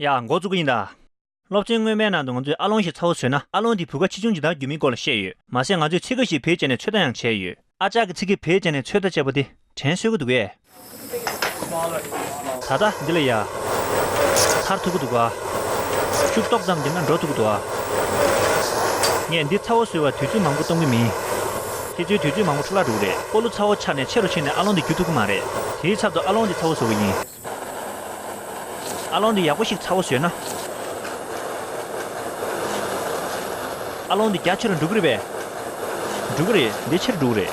ཡག་མགོ་བཙུགས་ཀྱི་ཡིན་ད། སློབ་ཆེན་སྔོན་མའི་ནང་དུ་ང་ཚོས་ཨ་ལོང་ཞིག་ཚ་བོ་བཟོས་ན་ཨ་ལོང་དེའི་བུ་ག་ཆེ་ཆུང་ཇི་ལྟར་འགྱུར་མིན་སྐོར་ལ་བཤད་ཡོད། མ་ཟད་ང་ཚོས་ཚིག་འགའ་ཞིག་བེད་སྤྱད་ནས་ཚོད་ལྟ་ཡང་བྱས་ཡོད། ཨ་ཅག་གི་ཚིག་གི་བེད་སྤྱད་ནས་ཚོད་ལྟ་བྱས་པ་དེ། དྲན་གསོས་ཀྱི་འདུག་གས། ད་ལྟ་འདི་ལ་ཡ། ཐར་ཐུབ་ཀྱི་འདུག་ག། ཤུགས་ཏོག་ཙམ་བསྡད་ན་འགྲོ་ཐུབ་ཀྱི་འདུག་ག། ངས་འདི་ཚ་བོ་བཟོས་བར་དུས་ཚོད་མང་པོ་གཏོང་གི་མིན། ཁྱེད་ཚོའི་དུས་ཚོད་མང་པོ་འཕྲོ་བརླག་འགྲོ་གི་རེད། སྤོ་ལོ་ཚ་བོ་ཆགས་ནས་ཆེ་རུ་ཕྱིན་ནས་ཨ་ལོང་འདི་བསྐྱུར་ཐུབ་ཀྱི་མ་རེད། དེའི་ཚབ་ཏུ་ཨ་ལོང་འདི་ཚ་བོ་བཟོ་གི་ཡིན། ཨ་ལོང་འདི་ཡག་པོ་ཞིག་ཚ་བོ་བཟོས་ན། ཨ་ལོང་འདི་རྒྱ་ཆེ་རུ་འགྲོ་གི་རེད་པས། འགྲོ་གི་རེད་འདི་ཆེ་རུ་འགྲོ་གི་རེད།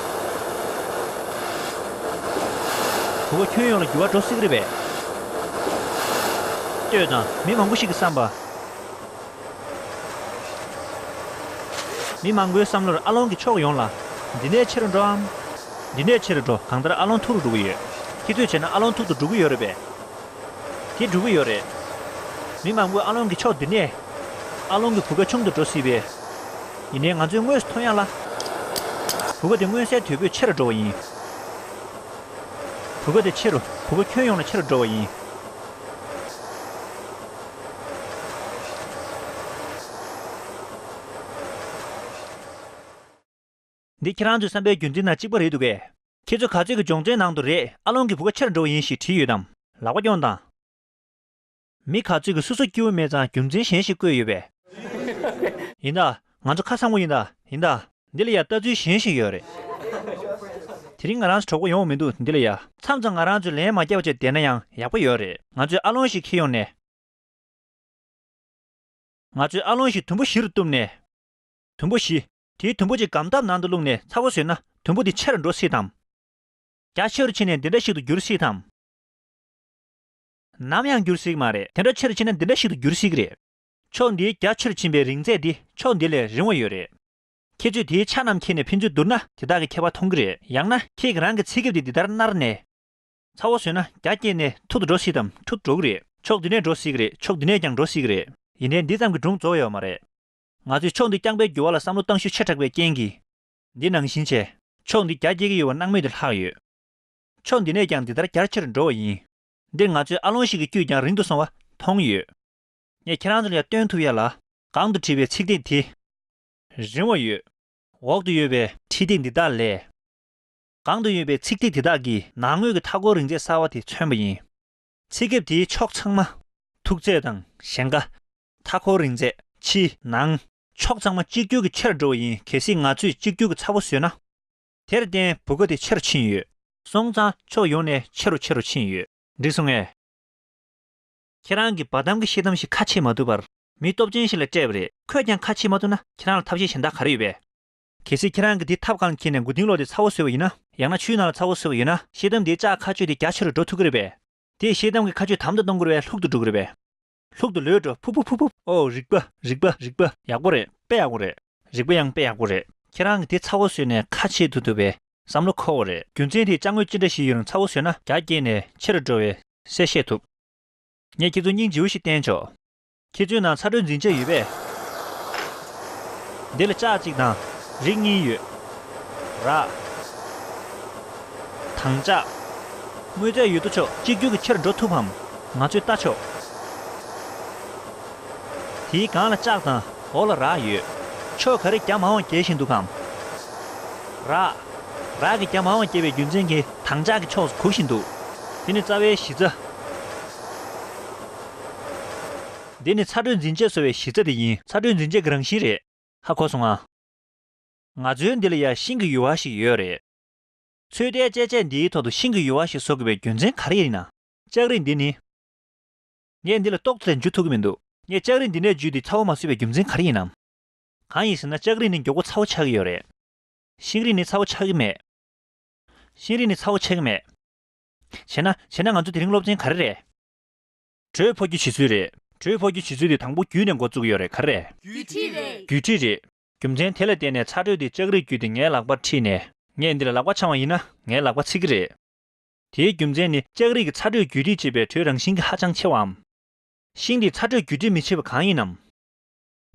བུ་ག་ཁྱོན་ཡོངས་ལ་འགྱུར་བ་འགྲོ་སྲིད་གི་རེད་པས། ལྟོས་དང་མི་མང་པོ་ཞིག་གི་བསམ་པ། མི་མང་པོའི་བསམ་བློར་ཨ་ལོང་གི་ཕྱོགས་ཡོངས་ལ། འདི་ནས་ཆེ་རུ་འགྲོ་འམ། འདི་ནས་ཆེ་རུ་འགྲོ་གང་ལྟར་ཨ་ལོང་མཐོ་རུ་འགྲོ་གི་ཡོད། ཁྱེད་ཚོས་བྱས་ན་ཨ་ལོང་མཐོ་དུ་འགྲོ་གི་ཡོད་རེད་པས། དེ་འགྲོ་གི་ཡོད་རེད། མི་མང་པོས་ཨ་ལོང་གི་ཕྱོགས་འདི་ནས། ཨ་ལོང་གི་བུ་ག་ཆུང་དུ་འགྲོ་སྲིད་པས། ཡིན་ནའི་ང་ཚོས་དངོས་སུ་མཐོང་ཡ་ལ། བུ་ག་དེ་མངོན་གསལ་དོད་པོས་ཆེ་རུ་འགྲོ་བ་ཡིན། བུ་ག་དེ་ཆེ་རུ་བུ་ག་ཁྱོན་ཡོངས་ལ་ཆེ་རུ་འགྲོ་བ་ཡིན། འདི་ཁྱེད་རང་ཚོའི་བསམ་པའི་རྒྱུན་འཛིན་དང་གཅིག་པ་རེད་འདུག་གས། ཁྱེད་ཚོ་ག་ཚོད་ཀྱི་སྦྱོང་བརྩོན་ནང་དུ་རེད་ཨ་ལོང་གི་བུ་ག་ཆེར་འགྲོ་བ་ཡིན་ཞེས་བྲིས་ཡོད་དམ། ལག་པ་རྐྱོང་དང། མི་ག་ཚོད་ཀྱི་སོ་སོ་སྐྱིད་བོ་མེད་ཙང་རྒྱུ་མཚན་གཞན་ཞིག་བཀོད་ཡོད་པས། ཡིན་ད། ང་ཚོ་ཁ་སང་པོ་ཡིན་ད་ཡིན་ད། འདི་ལ་ཡང་ལྟ་ཚུལ་གཞན་ཞིག་ཡོད་རེད། དེ་རིང་ང་རང་གྲོགས་པོ་ཡོང་བ་མི་འདུག་འདི་ལ་ཡ། མཚམས་མཚམས་ང་རང་ཚོས་ལན་མ་བརྒྱབ་བར་ཆད་བསྡད་ན་ཡང་ཡག་པོ་ཡོད་རེད། ང་ཚོས་ཨ་ལོང་ཞིག་ཁྱེར་ཡོང་ནས། ང་ཚོས་ཨ་ལོང་ཞིག་དུམ་བུ་བཞི་རུ་གཏུབ་ནས། དུམ་བུ་བཞི། དེའི་དུམ་བུ་གཅིག་སྒམ་ཐབ་ནང་དུ་བླུགས་ནས་ཚ་བོ་བཟོས་ན་དུམ་བུ་དེ་ཆེ་རུ་འགྲོ་སྲིད་དམ། རྒྱ་ཆེ་རུ་ཕྱིན་ནས་འདི་འདྲ་ཞིག་ཏུ་འགྱུར་སྲིད་དམ། ནམ་ཡང་འགྱུར་སྲིད་མ་རེད། དེ་འདྲ་ཆེ་རུ་ཕྱིན་ན་འདི་འདྲ་ཞིག་ཏུ་འགྱུར་སྲིད་ཀྱི་རེད། ཕྱོགས་འདིའི་རྒྱ་ཆེར་ཕྱིན་པའི་རིང་ཚད་འདི་ཕྱོགས་འདི་ལས་རིང་བ་ཡོད་རེད། ཁྱེད་ཚོས་དེའི་ཆ་རྣམས་ཁྱེར་ནས་ཕན་ཚུན་བསྡུར་ན་དེ་དག་གི་ཁྱད་པར་མཐོང་གི་རེད། ཡང་ན་ཁྱེད་ཀྱི་རང་གི་ཚེ་སྐྱབས་དེ་འདི་ལྟར་མནར་ནས། ཚ་བོ་ཟོས་ན་རྒྱ་སྐྱེས་ནས་ཐུར་དུ་འགྲོ་སྲིད་དམ་ཐུར་དུ་འགྲོ་གི་རེད། ཕྱོགས་འདི་ནས་འགྲོ་སྲིད་ཀྱི་རེད་ཕྱོགས་འདི་ནས་ཀྱང་འགྲོ་སྲིད་ཀྱི་རེད། ཡིན་དྲན་འདི་ཙམ་གྱི་སྒྲུང་རྫོགས་ཡོད་མ་རེད། ང་ཚོས་ཕྱོགས་འདི་རྐྱང་པའི་འགྱུར་བ་ལ་བསམ་བློ་གཏང་ཤུགས་ཆེ་དྲགས་པའི་རྐྱེན་གྱིས། འདི་ནང་བཞིན་བྱས། ཕྱོགས་འདི་རྒྱ་སྐྱེ་གི་ཡོད་པ་སྣང་མེད་དུ་ལྷག་ཡོད། ཕྱོགས་འདི་ནས་ཀྱང་འདི་ལྟར་རྒྱ་ཆེར་འགྲོ་བ་ཡིན། འདིར་ང་ཚོས་ཨ་ལོང་ཞིག་གི་དཀྱུས་ཀྱང་རིང་དུ་སོང་བ་མཐོང་ཡོད། ངས་ཁྱེད་རང་ཚོ་ལ་ཡང་སྟོན་ཐུབ་ཡ་ལ། གང་དུ་བྲིས་པའི་ཚིག་སྟེགས་དེ། རིང་བ་ཡོད། འོག་ཏུ་ཡོད་པའི། ཁྲིད་སྟེགས་འདི་དག་ལས། གང་དུ་ཡོད་པའི་ཚིག་སྟེགས་དེ་དག་གིས་ནང་ངོས་ཀྱི་མཐའ་སྐོར་རིང་ཚད་གསར་བ་དེ་མཚོན་པ་ཡིན། ཚིག་སྐེབས་དེའི་ཕྱོགས་ཚང་མ། མཐུག་ཚད་དང་ཞེང་ཁ། མཐའ་སྐོར་རིང་ཚད། ཕྱི། ནང། ཕྱོགས་ཚང་མ་གཅིག་གྱུར་གྱི་ཆེར་འགྲོ་བ་ཡིན་གལ་སྲིད་ང་ཚོས་གཅིག་གྱུར་གྱི་ཚ་བོ་བཟོས་ན། དེར་བརྟེན་བུ་ག་དེ་ཆེ་རུ་ཕྱིན་ཡོད། སོང་ཙང་ཕྱོགས་ཡོངས་ནས་ཆེ་རུ་ཆེ་རུ་ཕྱིན་ཡོད། འགྲིག་སོང་ངས། ཁྱེད་རང་གིས་བར་དམ་གྱི་ཤེས་དམ་ཞིག་ཁ་ཕྱེ་མ་ཐུབ་པར། མི་སྟོབས་ཅན་ཞིག་ལ་སྤྲད་པ་རེད། ཁོས་ཀྱང་ཁ་ཕྱེ་མ་ཐུབ་ན་ཁྱེད་རང་ལ་ཐབས་ཤེས་གཞན་དག་ག་རེ་ཡོད་པས། གལ་སྲིད་ཁྱེད་རང་གིས་དེ་ཐབས་གང་འཁྱེར་ནས་མགོ་རྟིང་ལོག་སྟེ་ཚ་བོ་ཟོས་པ་ཡིན་ན། ཡང་ན་ཆུའི་ནང་ལ་ཚ་བོ་ཟོས་པ་ཡོད་ན། ཤེས་དམ་དེའི་ལྕགས་ཁ་གཅོད་དེ་རྒྱ་ཆེ་རུ་འགྲོ་ཐུབ་ཀྱི་རེད་པས། དེས་ཤེས་དམ་གྱི་ཁ་གཅོད་དམ་དུ་གཏོང་དགོས་པས་ལྷུག་ཏུ་འགྲོ་གི་རེད་པས། ལྷུག་ཏུ་ལོས་འགྲོ་ཕུབ་ཕུབ་ཕུབ་ཕུབ། ཨོ་རིག་པ་རིག་པ་རིག་པ། ཡག་པོ་རེད་དཔེ་ཡག་པོ་རེད། རིག་པ་ཡང་དཔེ་ཡག་པོ་རེད། ཁྱེད་རང་གིས་དེ་ཚ་བོ་ཟོས་ནས་ཁ་ཕྱེ་ཐུབ་ཐུབ་པས་བསམ་བློ་འཁོར་བ་རེད། རྒྱུ་མཚན་དེས་ལྕགས་དངོས་ཅི་འདྲ་ཞིག་ཡོད་རུང་ཚ་བོ་ཟོས་ན་རྒྱ་བསྐྱེད་ནས་ཆེ་རུ་འགྲོ་བས། གསལ་ཤེས་ཐུབ། ངས་ཁྱེད་ཚོར་སྙིང་རྗེ་བོ་ཞིག་བསྟན་ཆོག། ཁྱེད་ཚོའི་ནང་ཚ་དྲོད་འཛིན་ཆ་ཡོད་པས། འདི་ལ་ལྕགས་གཅིག་དང་རིགས་གཉིས་ཡོད། ར། དང་ལྕགས། དངོས་རྫས་ཡོད་དོ་ཅོག་གཅིག་གྱུར་གྱི་ཕྱིར་འགྲོ་ཐུབ་བམ། ང་ཚོས་བལྟ་ཆོག། དེའི་སྒང་ལ་ལྕགས་དང་འོག་ལ་ར་ཡོད། ཕྱོགས་ག་རེ་རྒྱ་མ་འོང་རྒྱལ་བཞིན་འདུག་གམ། ར། རག་གི་རྒྱ་མ་འོངས་སྐྱེ་བའི་རྒྱུ་མཚན་གྱིས། དྭངས་ལྕགས་ཀྱི་ཕྱོགས་སུ་གུག་བཞིན་འདུག། དེ་ནི་རྩ་བའི་གཞི་རྩ། འདི་ནི་ཚ་དྲོད་འཛིན་ཆས་བཟོ་བའི་གཞི་རྩ་དེ་ཡིན། ཚ་དྲོད་འཛིན་ཆས་ཀྱི་རང་བཞིན་རེད། ཧ་གོ་སོང་ཨ། ང་ཚོའི་འདི་ལ་ཡང་ཤིང་གི་ཡུ་བ་ཞིག་ཡོད་རེད། ཚོད་ལྟའི་དཔྱད་ཆས་འདིའི་ཐོག་ཏུ་ཤིང་གི་ཡུ་བ་ཞིག་བཟོ་དགོས་པའི་རྒྱུ་མཚན་ག་རེ་ཡིན་ན། ལྕགས་རི་འདི་ནི། ངས་འདི་ལ་ཏོག་ཙེ་ལས་འཇུ་ཐུབ་ཀྱི་མི་འདུག། ངས་ལྕགས་རི་འདི་ནས་འཇུས་ཏེ་ཚ་བོ་མ་བཟོས་པའི་རྒྱུ་མཚན་ག་རེ་ཡིན་ནམ། གང་ཡིན་ཟེར་ན་ལྕགས་རི་ནི་མགྱོགས་པོ་ཚ་བོ་ཆགས་ཀྱི་ཡོད་རེད། ཤིང་རིགས་ནི་ཚ་བོ་ཆགས་ཀྱི་མེད། ཤིང་རིགས་ནི་ཚ་བོ་ཆགས་ཀྱི་མེད། བྱས་ན། བྱས་ན་ང་ཚོ་དེ་རིང་སློབ་ཚན་ག་རེ་རེད། དྲོད་ཕོ་རྒྱུ་བྱེད་ཚུལ་རེད། དྲོད་ཕོ་རྒྱུ་བྱེད་ཚུལ་དེ་དང་པོ་རྒྱུད་ནས་འགོ་བཙུགས་ཡོད་རེད་ག་རེ་རེད། རྒྱུད་ཁྲིད་རེད། རྒྱུད་ཁྲིད་རེད། རྒྱུ་མཚན་དེ་ལ་བརྟེན་ནས་ཚ་དྲོད་དེ་ལྕགས་རིགས་བརྒྱུད་དེ་ངའི་ལག་པར་ཁྲིད་ནས། ངས་འདི་ལ་ལག་པ་འཆང་བ་ཡིན་ན་ངའི་ལག་པ་ཚིག་གི་རེད། དེའི་རྒྱུ་མཚན་ནི་ལྕགས་རིགས་ཀྱི་ཚ་དྲོད་བརྒྱུད་ཁྲིད་བྱེད་པའི་དྲོད་རང་བཞིན་གྱིས་ཧ་ཅང་ཆེ་བའམ། ཤིང་རིགས་ཚ་དྲོད་བརྒྱུད་ཁྲིད་མི་བྱེད་པ་གང་ཡིན་ནམ།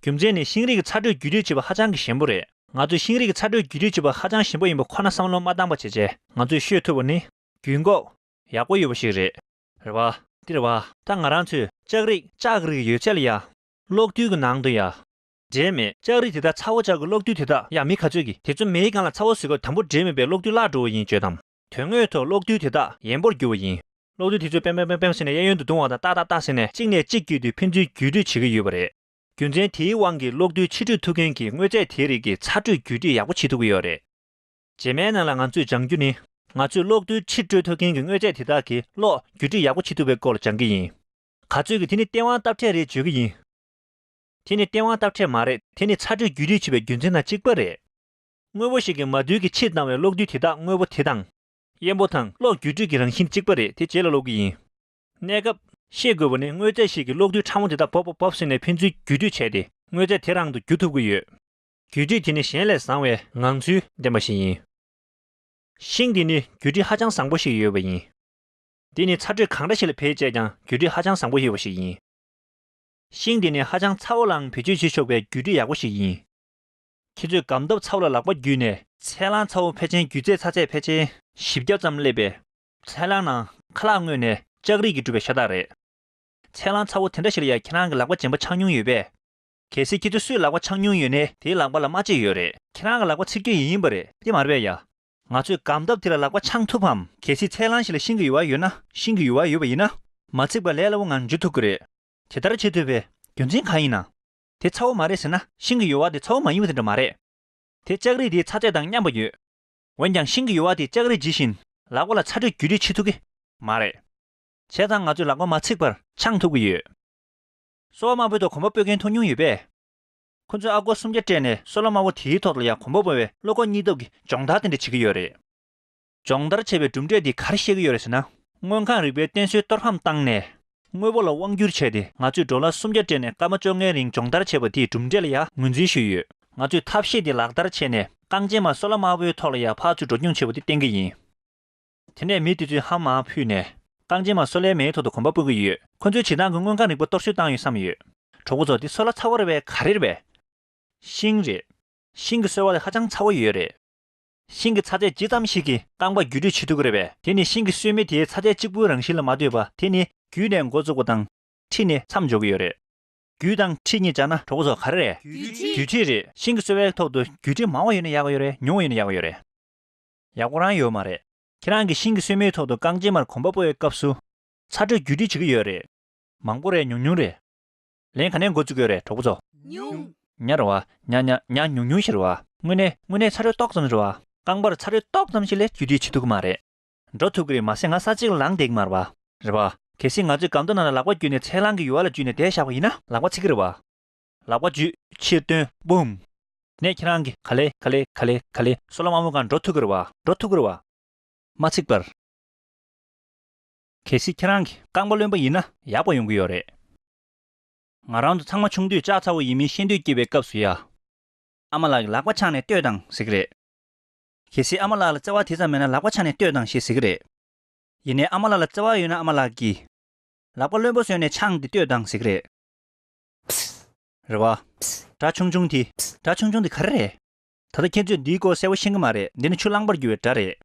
རྒྱུ་མཚན་ནི་ཤིང་རིགས་ཀྱི་ཚ་དྲོད་བརྒྱུད་སྤྲོད་བྱེད་པ་ཧ་ཅང་གི་ཞན་པོ་རེད། ང་ཚོས་ཤིང་རིགས་ཀྱི་ཚ་དྲོད་བརྒྱུད་སྤྲོད་བྱེད་པ་ཧ་ཅང་ཞན་པོ་ཡིན་པ་ཁོ་ན་བསམ་བློ་མ་བཏང་པ་བྱས་རྗེས་ང་ཚོས་ཤོད་ཐུབ་པ་ནི། རྒྱུད་འགོག། ཡག་པོ་ཡོད་པ་ཞིག་རེད། རེད་བ། འདི་རེད་བ། ད་ང་རང་ཚོས་ལྕགས་རིགས། ལྕགས་རིགས་ཡོད་ཚད་ལ་ཡ། གློག་རྡུལ་གྱི་ནང་དུ་ཡ། འདྲེས་མེད་ལྕགས་རིགས་དེ་དག་ཚ་བོ་ལྕགས་ཀྱི་གློག་རྡུལ་དེ་དག་ཡ་མི་ག་ཚོད་ཀྱིས་དེ་ཚོ་མེའི་སྒང་ལ་ཚ་བོ་ཟོས་སྐབས་དམ་པོར་འདྲེས་མེད་པའི་གློག་རྡུལ་བརླག་འགྲོ་བ་ཡིན་བརྗོད་དམ། དོན་དངོས་ཐོག་གློག་རྡུལ་དེ་དག་ཡན་པོར་འགྱུར་བ་ཡིན། གློག་རྡུལ་དེ་ཚོས་པེམཔེམཔེམཔེམ་ཟེར་ནས་གཡས་གཡོན་དུ་རྡུང་བ་དང་ཏག་ཏག་ཏག་ཟེར་ནས་གཅིག་ནས་གཅིག་བརྒྱུད་དེ་ཕན་ཚུན་བརྒྱུད་སྤྲོད་བྱེད་ཀྱི་ཡོད་པ་རེད། རྒྱུ་མཚན་དེའི་དབང་གིས་གློག་རྡུལ་ཕྱི་སྤྲོད་ཐུབ་མཁན་གྱི་དངོས་རྫས་དེའི་རིགས་ཀྱི་ཚ་དྲོད་བརྒྱུད་སྤྲོད་ཡག་པོ་བྱེད་ཐུབ་ཀྱི་ཡོད་རེད། རྗེས་མའི་ནང་ལ་ང་ཚོས་སྦྱང་རྒྱུ་ནི། ང་ཚོས་གློག་རྡུལ་ཕྱིར་སྤྲོད་ཐུབ་མཁན་གྱི་དངོས་རྫས་དེ་དག་གིས་གློག་བརྒྱུད་སྤྲོད་ཡག་པོ་བྱེད་ཐུབ་པའི་སྐོར་སྦྱང་གི་ཡིན། ག་ཚོད་ཀྱིས་དེ་ནི་སྟེས་དབང་སྟབས་ཕྲད་རེད་བརྗོད་ཀྱི་ཡིན། དེ་ནི་སྟེས་དབང་སྟབས་ཕྲད་མ་རེད་དེ་ནི་ཚ་དྲོད་བརྒྱུད་སྤྲོད་བྱེད་པའི་རྒྱུ་མཚན་དང་གཅིག་པ་རེད། དངོས་པོ་ཞིག་གི་མ་རྡུལ་གྱི་ཕྱིར་བཏང་བའི་གློག་རྡུལ་དེ་དག་དངོས་པོ་དེ་དང། གཡེམ་པོ་དང་གློག་འགྱུ་འཕྲུལ་གྱི་རང་བཞིན་གཅིག་པ་རེད་དེ་རྗེས་ལ་སློབ་གི་ཡིན། གནས་སྐབས། ཤེས་དགོས་པ་ནི་དངོས་རྫས་ཤིག་གི་གློག་རྡུལ་ཕྲ་མོ་དེ་དག་བོབ་བོབ་བོབ་ཟེར་ནས་ཕན་ཚུན་འགྱུ་འཕྲུལ་བྱས་ཏེ་དངོས་རྫས་དེ་རང་དུ་འགྱུ་ཐུབ་ཀྱི་ཡོད། འགྱུ་འཕྲུལ་དེ་ནི་གཞན་ལས་བཟང་བའི་ངང་ཚུལ་ལྡན་པ་ཞིག་ཡིན། ཤིང་དེ་ནི་འགྱུ་འཕྲུལ་ཧ་ཅང་བཟང་པོ་ཞིག་ཡོད་པ་ཡིན། དེ་ནི་ཚ་དྲོད་གང་འདྲ་ཞིག་ལ་བེད་སྤྱད་ཀྱང་འགྱུ་འཕྲུལ་ཧ་ཅང་བཟང་པོ་ཡོད་པ་ཞིག་ཡིན། ཤིང་དེ་ནི་ཧ་ཅང་ཚ་བོ་ལའང་བེད་སྤྱོད་བྱེད་ཆོག་པའི་འགྱུ་འཕྲུལ་ཡག་པོ་ཞིག་ཡིན། ཁྱེད་ཚོས་སྒམ་སྟབས་ཚ་བོ་ལ་ལག་པ་བརྒྱུས་ནས། ཚལ་རླངས་ཚ་བོ་ཕལ་ཆེན་བརྒྱུད་ཚེ་ཚ་ཚད་ཕལ་ཆེན། བཞི་བརྒྱ་ཙམ་སླེབས་པས། ཚལ་རླངས་ནང་ཁ་ལག་བརྔོས་ནས་ལྕགས་རིགས་ཀྱིས་གྲུབ་པའི་ཤ་སྟག་རེད། ཚལ་རླངས་ཚ་བོ་དེ་འདྲ་ཞིག་ལ་ཡང་ཁྱེད་རང་གི་ལག་པ་འཇེམ་པ་ཆགས་མྱོང་ཡོད་པས། གལ་སྲིད་ཁྱེད་ཚོའི་སུའི་ལག་པ་ཆགས་མྱོང་ཡོད་ནའི་དེའི་ལག་པ་ལ་རྨ་བྱེད་ཡོད་རེད། ཁྱེད་རང་གི་ལག་པ་ཚིག་སྐྱོན་ཡིན་ཡིན་པ་རེད་ཏེ་མར་བས་ཡ། ང་ཚོས་སྒམ་སྟབས་དེ་ལ་ལག་པ་འཆང་ཐུབ་བམ། གལ་སྲིད་ཚལ་རླངས་ཞིག་ལ་ཤིང་གི་ཡུ་བ་ཡོད་ན་ཤིང་གི་ཡུ་བ་ཡོད་པ་ཡིན་ན། མ་ཚིག་པར་ལས་སླ་བོ་ངང་འཇུ་ཐུབ་ཀྱི་རེད། དེ་ལྟར་བྱེད་ཐུབ་པའི་རྒྱུ་མཚན་གང་ཡིན་ན། དེ་ཚ་བོ་མ་རེད་ཟེར་ན་ཤིང་གི་ཡོལ་བ་དེ་ཚ་བོ་མ་ཡིན་པ་དེ་འདྲ་མ་རེད། དེ་ལྕགས་རིགས་དེའི་ཚ་ཚད་དང་མཉམ་པ་ཡོད། འོན་ཀྱང་ཤིང་གི་ཡོལ་བ་དེ་ལྕགས་རིགས་ཇི་བཞིན་ལག་པ་ལ་ཚ་དྲོད་བརྒྱུད་སྤྲོད་བྱེད་ཐུབ་ཀྱི་མ་རེད། བྱས་ཙང་ང་ཚོས་ལག་པ་མ་འཚིག་པར་འཆང་ཐུབ་ཀྱི་ཡོད། སོ་བ་དམར་པོའི་ཐོག་གོམ་པ་སྤོས་མཁན་ཐུག་མྱོང་ཡོད་པས། ཁོ་ཚོས་ཨ་སྒོར་སུམ་བརྒྱ་སྤྲད་ནས་སོ་ལ་དམར་པོ་དེའི་ཐོག་ལ་ཡང་གོམ་པ་སྤོ་བའི་བློ་ཁོག་གཉིས་སྟོབས་ཀྱི་སྦྱོང་བརྡར་དེ་འདྲ་བྱེད་ཀྱི་ཡོད་རེད། སྦྱོང་བརྡར་བྱས་པའི་གྲུབ་འབྲས་དེ་གར་བཤད་ཀྱི་ཡོད་རེད་ཟེར་ན། དངོས་ཁང་རིག་པའི་རྟེན་སྲོལ་གཏོར་ཕམ་བཏང་ནས། དངོས་པོ་ལ་དབང་བསྒྱུར་བྱས་ཏེ་ང་ཚོས་འབྲོག་ལྭ་སུམ་བརྒྱ་སྤྲད་ནས་སྐར་མ་བཅོ་ལྔའི་རིང་སྦྱོང་བརྡར་བྱས་པ་དེའི་གྲུབ་འབྲས་ལ་ཡང་ངོས་འཛིན་ཞུས་ཡོད། ང་ཚོས་ཐབས་ཤེས་དེ་ལག་བསྟར་བྱས་ནས་རྐང་རྗེས་མ་སོ་ལྭ་དམར་པོའི་ཐོག་ལ་ཡང་ཕག་ཆུ་འགྲོ་སྐྱོང་བྱེད་པ་དེ་བསྟན་གྱི་ཡིན། དེ་ནས་མི་དེ་ཚོས་ཧམ་མ་ཕུད་ནས། རྐང་རྗེས་མ་སོ་ལྭའི་མེའི་ཐོག་ཏུ་གོམ་པ་སྤོ་གི་ཡོད། ཁོ་ཚོས་བྱེ་ཐང་གི་དངོས་ཁང་རིག་པ་གཏོར་བཤིག་བཏང་ཡོད་བསམ་ཡོད། གྲོགས་པོ་ཚོ་དེ་སོ་ལྭ་ཚ་བོ་རེད་པས་ག་རེ་རེད་པས། ཤིང་རེད། ཤིང་གི་སོལ་བ་དེ་ཧ་ཅང་ཚ་བོ་ཡོད་རེད། ཤིང་གི་ཚ་ཚད་ཇི་ཙམ་ཞིག་གིས་རྐང་པ་བརྒྱུད་སྤྲོད་བྱེད་ཐུབ་ཀྱི་རེད་པས་དེ་ནི་ཤིང་གི་སོལ་མེ་དེའི་ཚ་ཚད་གཅིག་པུའི་རང་བཞིན་ལ་མ་ལྟོས་པ་དེ་ནི། བརྒྱུད་ནས་མགོ་བཙུགས་པ་དང། མཁྲིས་ནི་མཚམས་འཇོག་གི་ཡོད་རེད། བརྒྱུད་དང་མཁྲིས་གཉིས་སྦྱར་ན་གྲོགས་པོ་ཚོ་ག་རེ་རེད། བརྒྱུད་མཁྲིས་རེད། ཤིང་གི་སོལ་བའི་ཐོག་ཏུ་བརྒྱུད་མཁྲིས་མང་བ་ཡོད་ན་ཡག་གི་ཡོད་རེད་ཉུང་བ་ཡོད་ན་ཡག་གི་ཡོད་རེད། ཡག་པོ་རང་ཡོད་མ་རེད། ཁྱེད་རང་གིས་ཤིང་གི་སོལ་མེའི་ཐོག་ཏུ་རྐང་རྗེས་མར་གོམ་པ་སྤོ་བའི་སྐབས་སུ། ཚ་དྲོད་བརྒྱུད་མཁྲིས་བྱེད་ཀྱི་ཡོད་རེད། མང་པོ་རེད་ཉུང་ཉུང་རེད། ལན། ག་ནས་འགོ་བཙུགས་ཡོད་རེད་གྲོགས་པོ་ཚོ། ཉུང། ཉ་རེད་བ། ཉ་ཉ་ཉ་ཉུང་ཉུང་ཞིག་རེད་བ། དངོས་གནས་དངོས་གནས་ཚ་རོལ་ཏོག་ཙམ་རེད་བ། རྐང་པར་ཚ་རོལ་ཏོག་ཙམ་ཞིག་ལས་རྒྱུད་དེ་འཆི་ཐུབ་ཀྱི་མ་རེད། འགྲོ་ཐུབ་ཀྱི་རེད་མ་ཟད་ང་ས་གཅིག་ལངས་བསྡད་ཀྱི་མ་རེད་བ། རེད་བ། གལ་སྲིད་ང་ཚོས་སྒམ་ཏོག་ནང་ལ་ལག་པ་བརྒྱུས་ནས་ཚལ་རླངས་ཀྱི་ཡུ་བ་ལ་འཇུས་ནས་དེད་བཞག་པ་ཡིན་ན། ལག་པ་ཚིག་གི་རེད་བ། ལག་པ་བརྒྱུས་ཕྱིར་བཏོན་བུམ། ནས་ཁྱེད་རང་གིས་ག་ལེ་ག་ལེ་ག་ལེ་ག་ལེ། སོ་ལ་མ་འོངས་ག་འགྲོ་ཐུབ་ཀྱི་རེད་བ། འགྲོ་ཐུབ་ཀྱི་རེད་བ། མ་ཚིག་པར། གལ་སྲིད་ཁྱེད་རང་གི་རྐང་པ་རློན་པ་ཡིན་ན། ཡག་པ་ཡོང་གི་ཡོད་རེད། ང་རང་ཚོ་ཚང་མ་ཆུང་དུས་ལྕགས་ཚ་བོ་ཡིན་མིན་ཤེས་འདོད་སྐྱེས་པའི་སྐབས་སུ་ཡ། ཨ་མ་ལགས་ཀྱི་ལག་པ་ཕྱགས་ནས་ལྟོས་དང་ཟེར་གི་རེད། གལ་སྲིད་ཨ་མ་ལགས་ལ་བརྩེ་བ་དེ་ཙམ་མེད་ན་ལག་པ་ཕྱགས་ནས་ལྟོས་དང་ཞེས་ཟེར་གི་རེད། ཡིན་ནའི་ཨ་མ་ལགས་ལ་བརྩེ་བ་ཡོད་ན་ཨ་མ་ལགས་ཀྱིས། ལག་པ་རློན་པོ་བཟོས་ནས་ཕྱགས་ཏེ་ལྟོས་དང་ཟེར་གི་རེད། རེད་བ། སྒྲ་ཆུང་ཆུང་དེ། སྒྲ་ཆུང་ཆུང་དེ་ག་རེ་རེད། ད་ལྟ་ཁྱེད་ཚོས་འདིའི་སྐོར་གསལ་བོ་ཤེས་ཀྱི་མ་རེད་འདི་ནི་ཆུ་རླངས་པར་རྒྱུ་བའི་སྒྲ་རེད།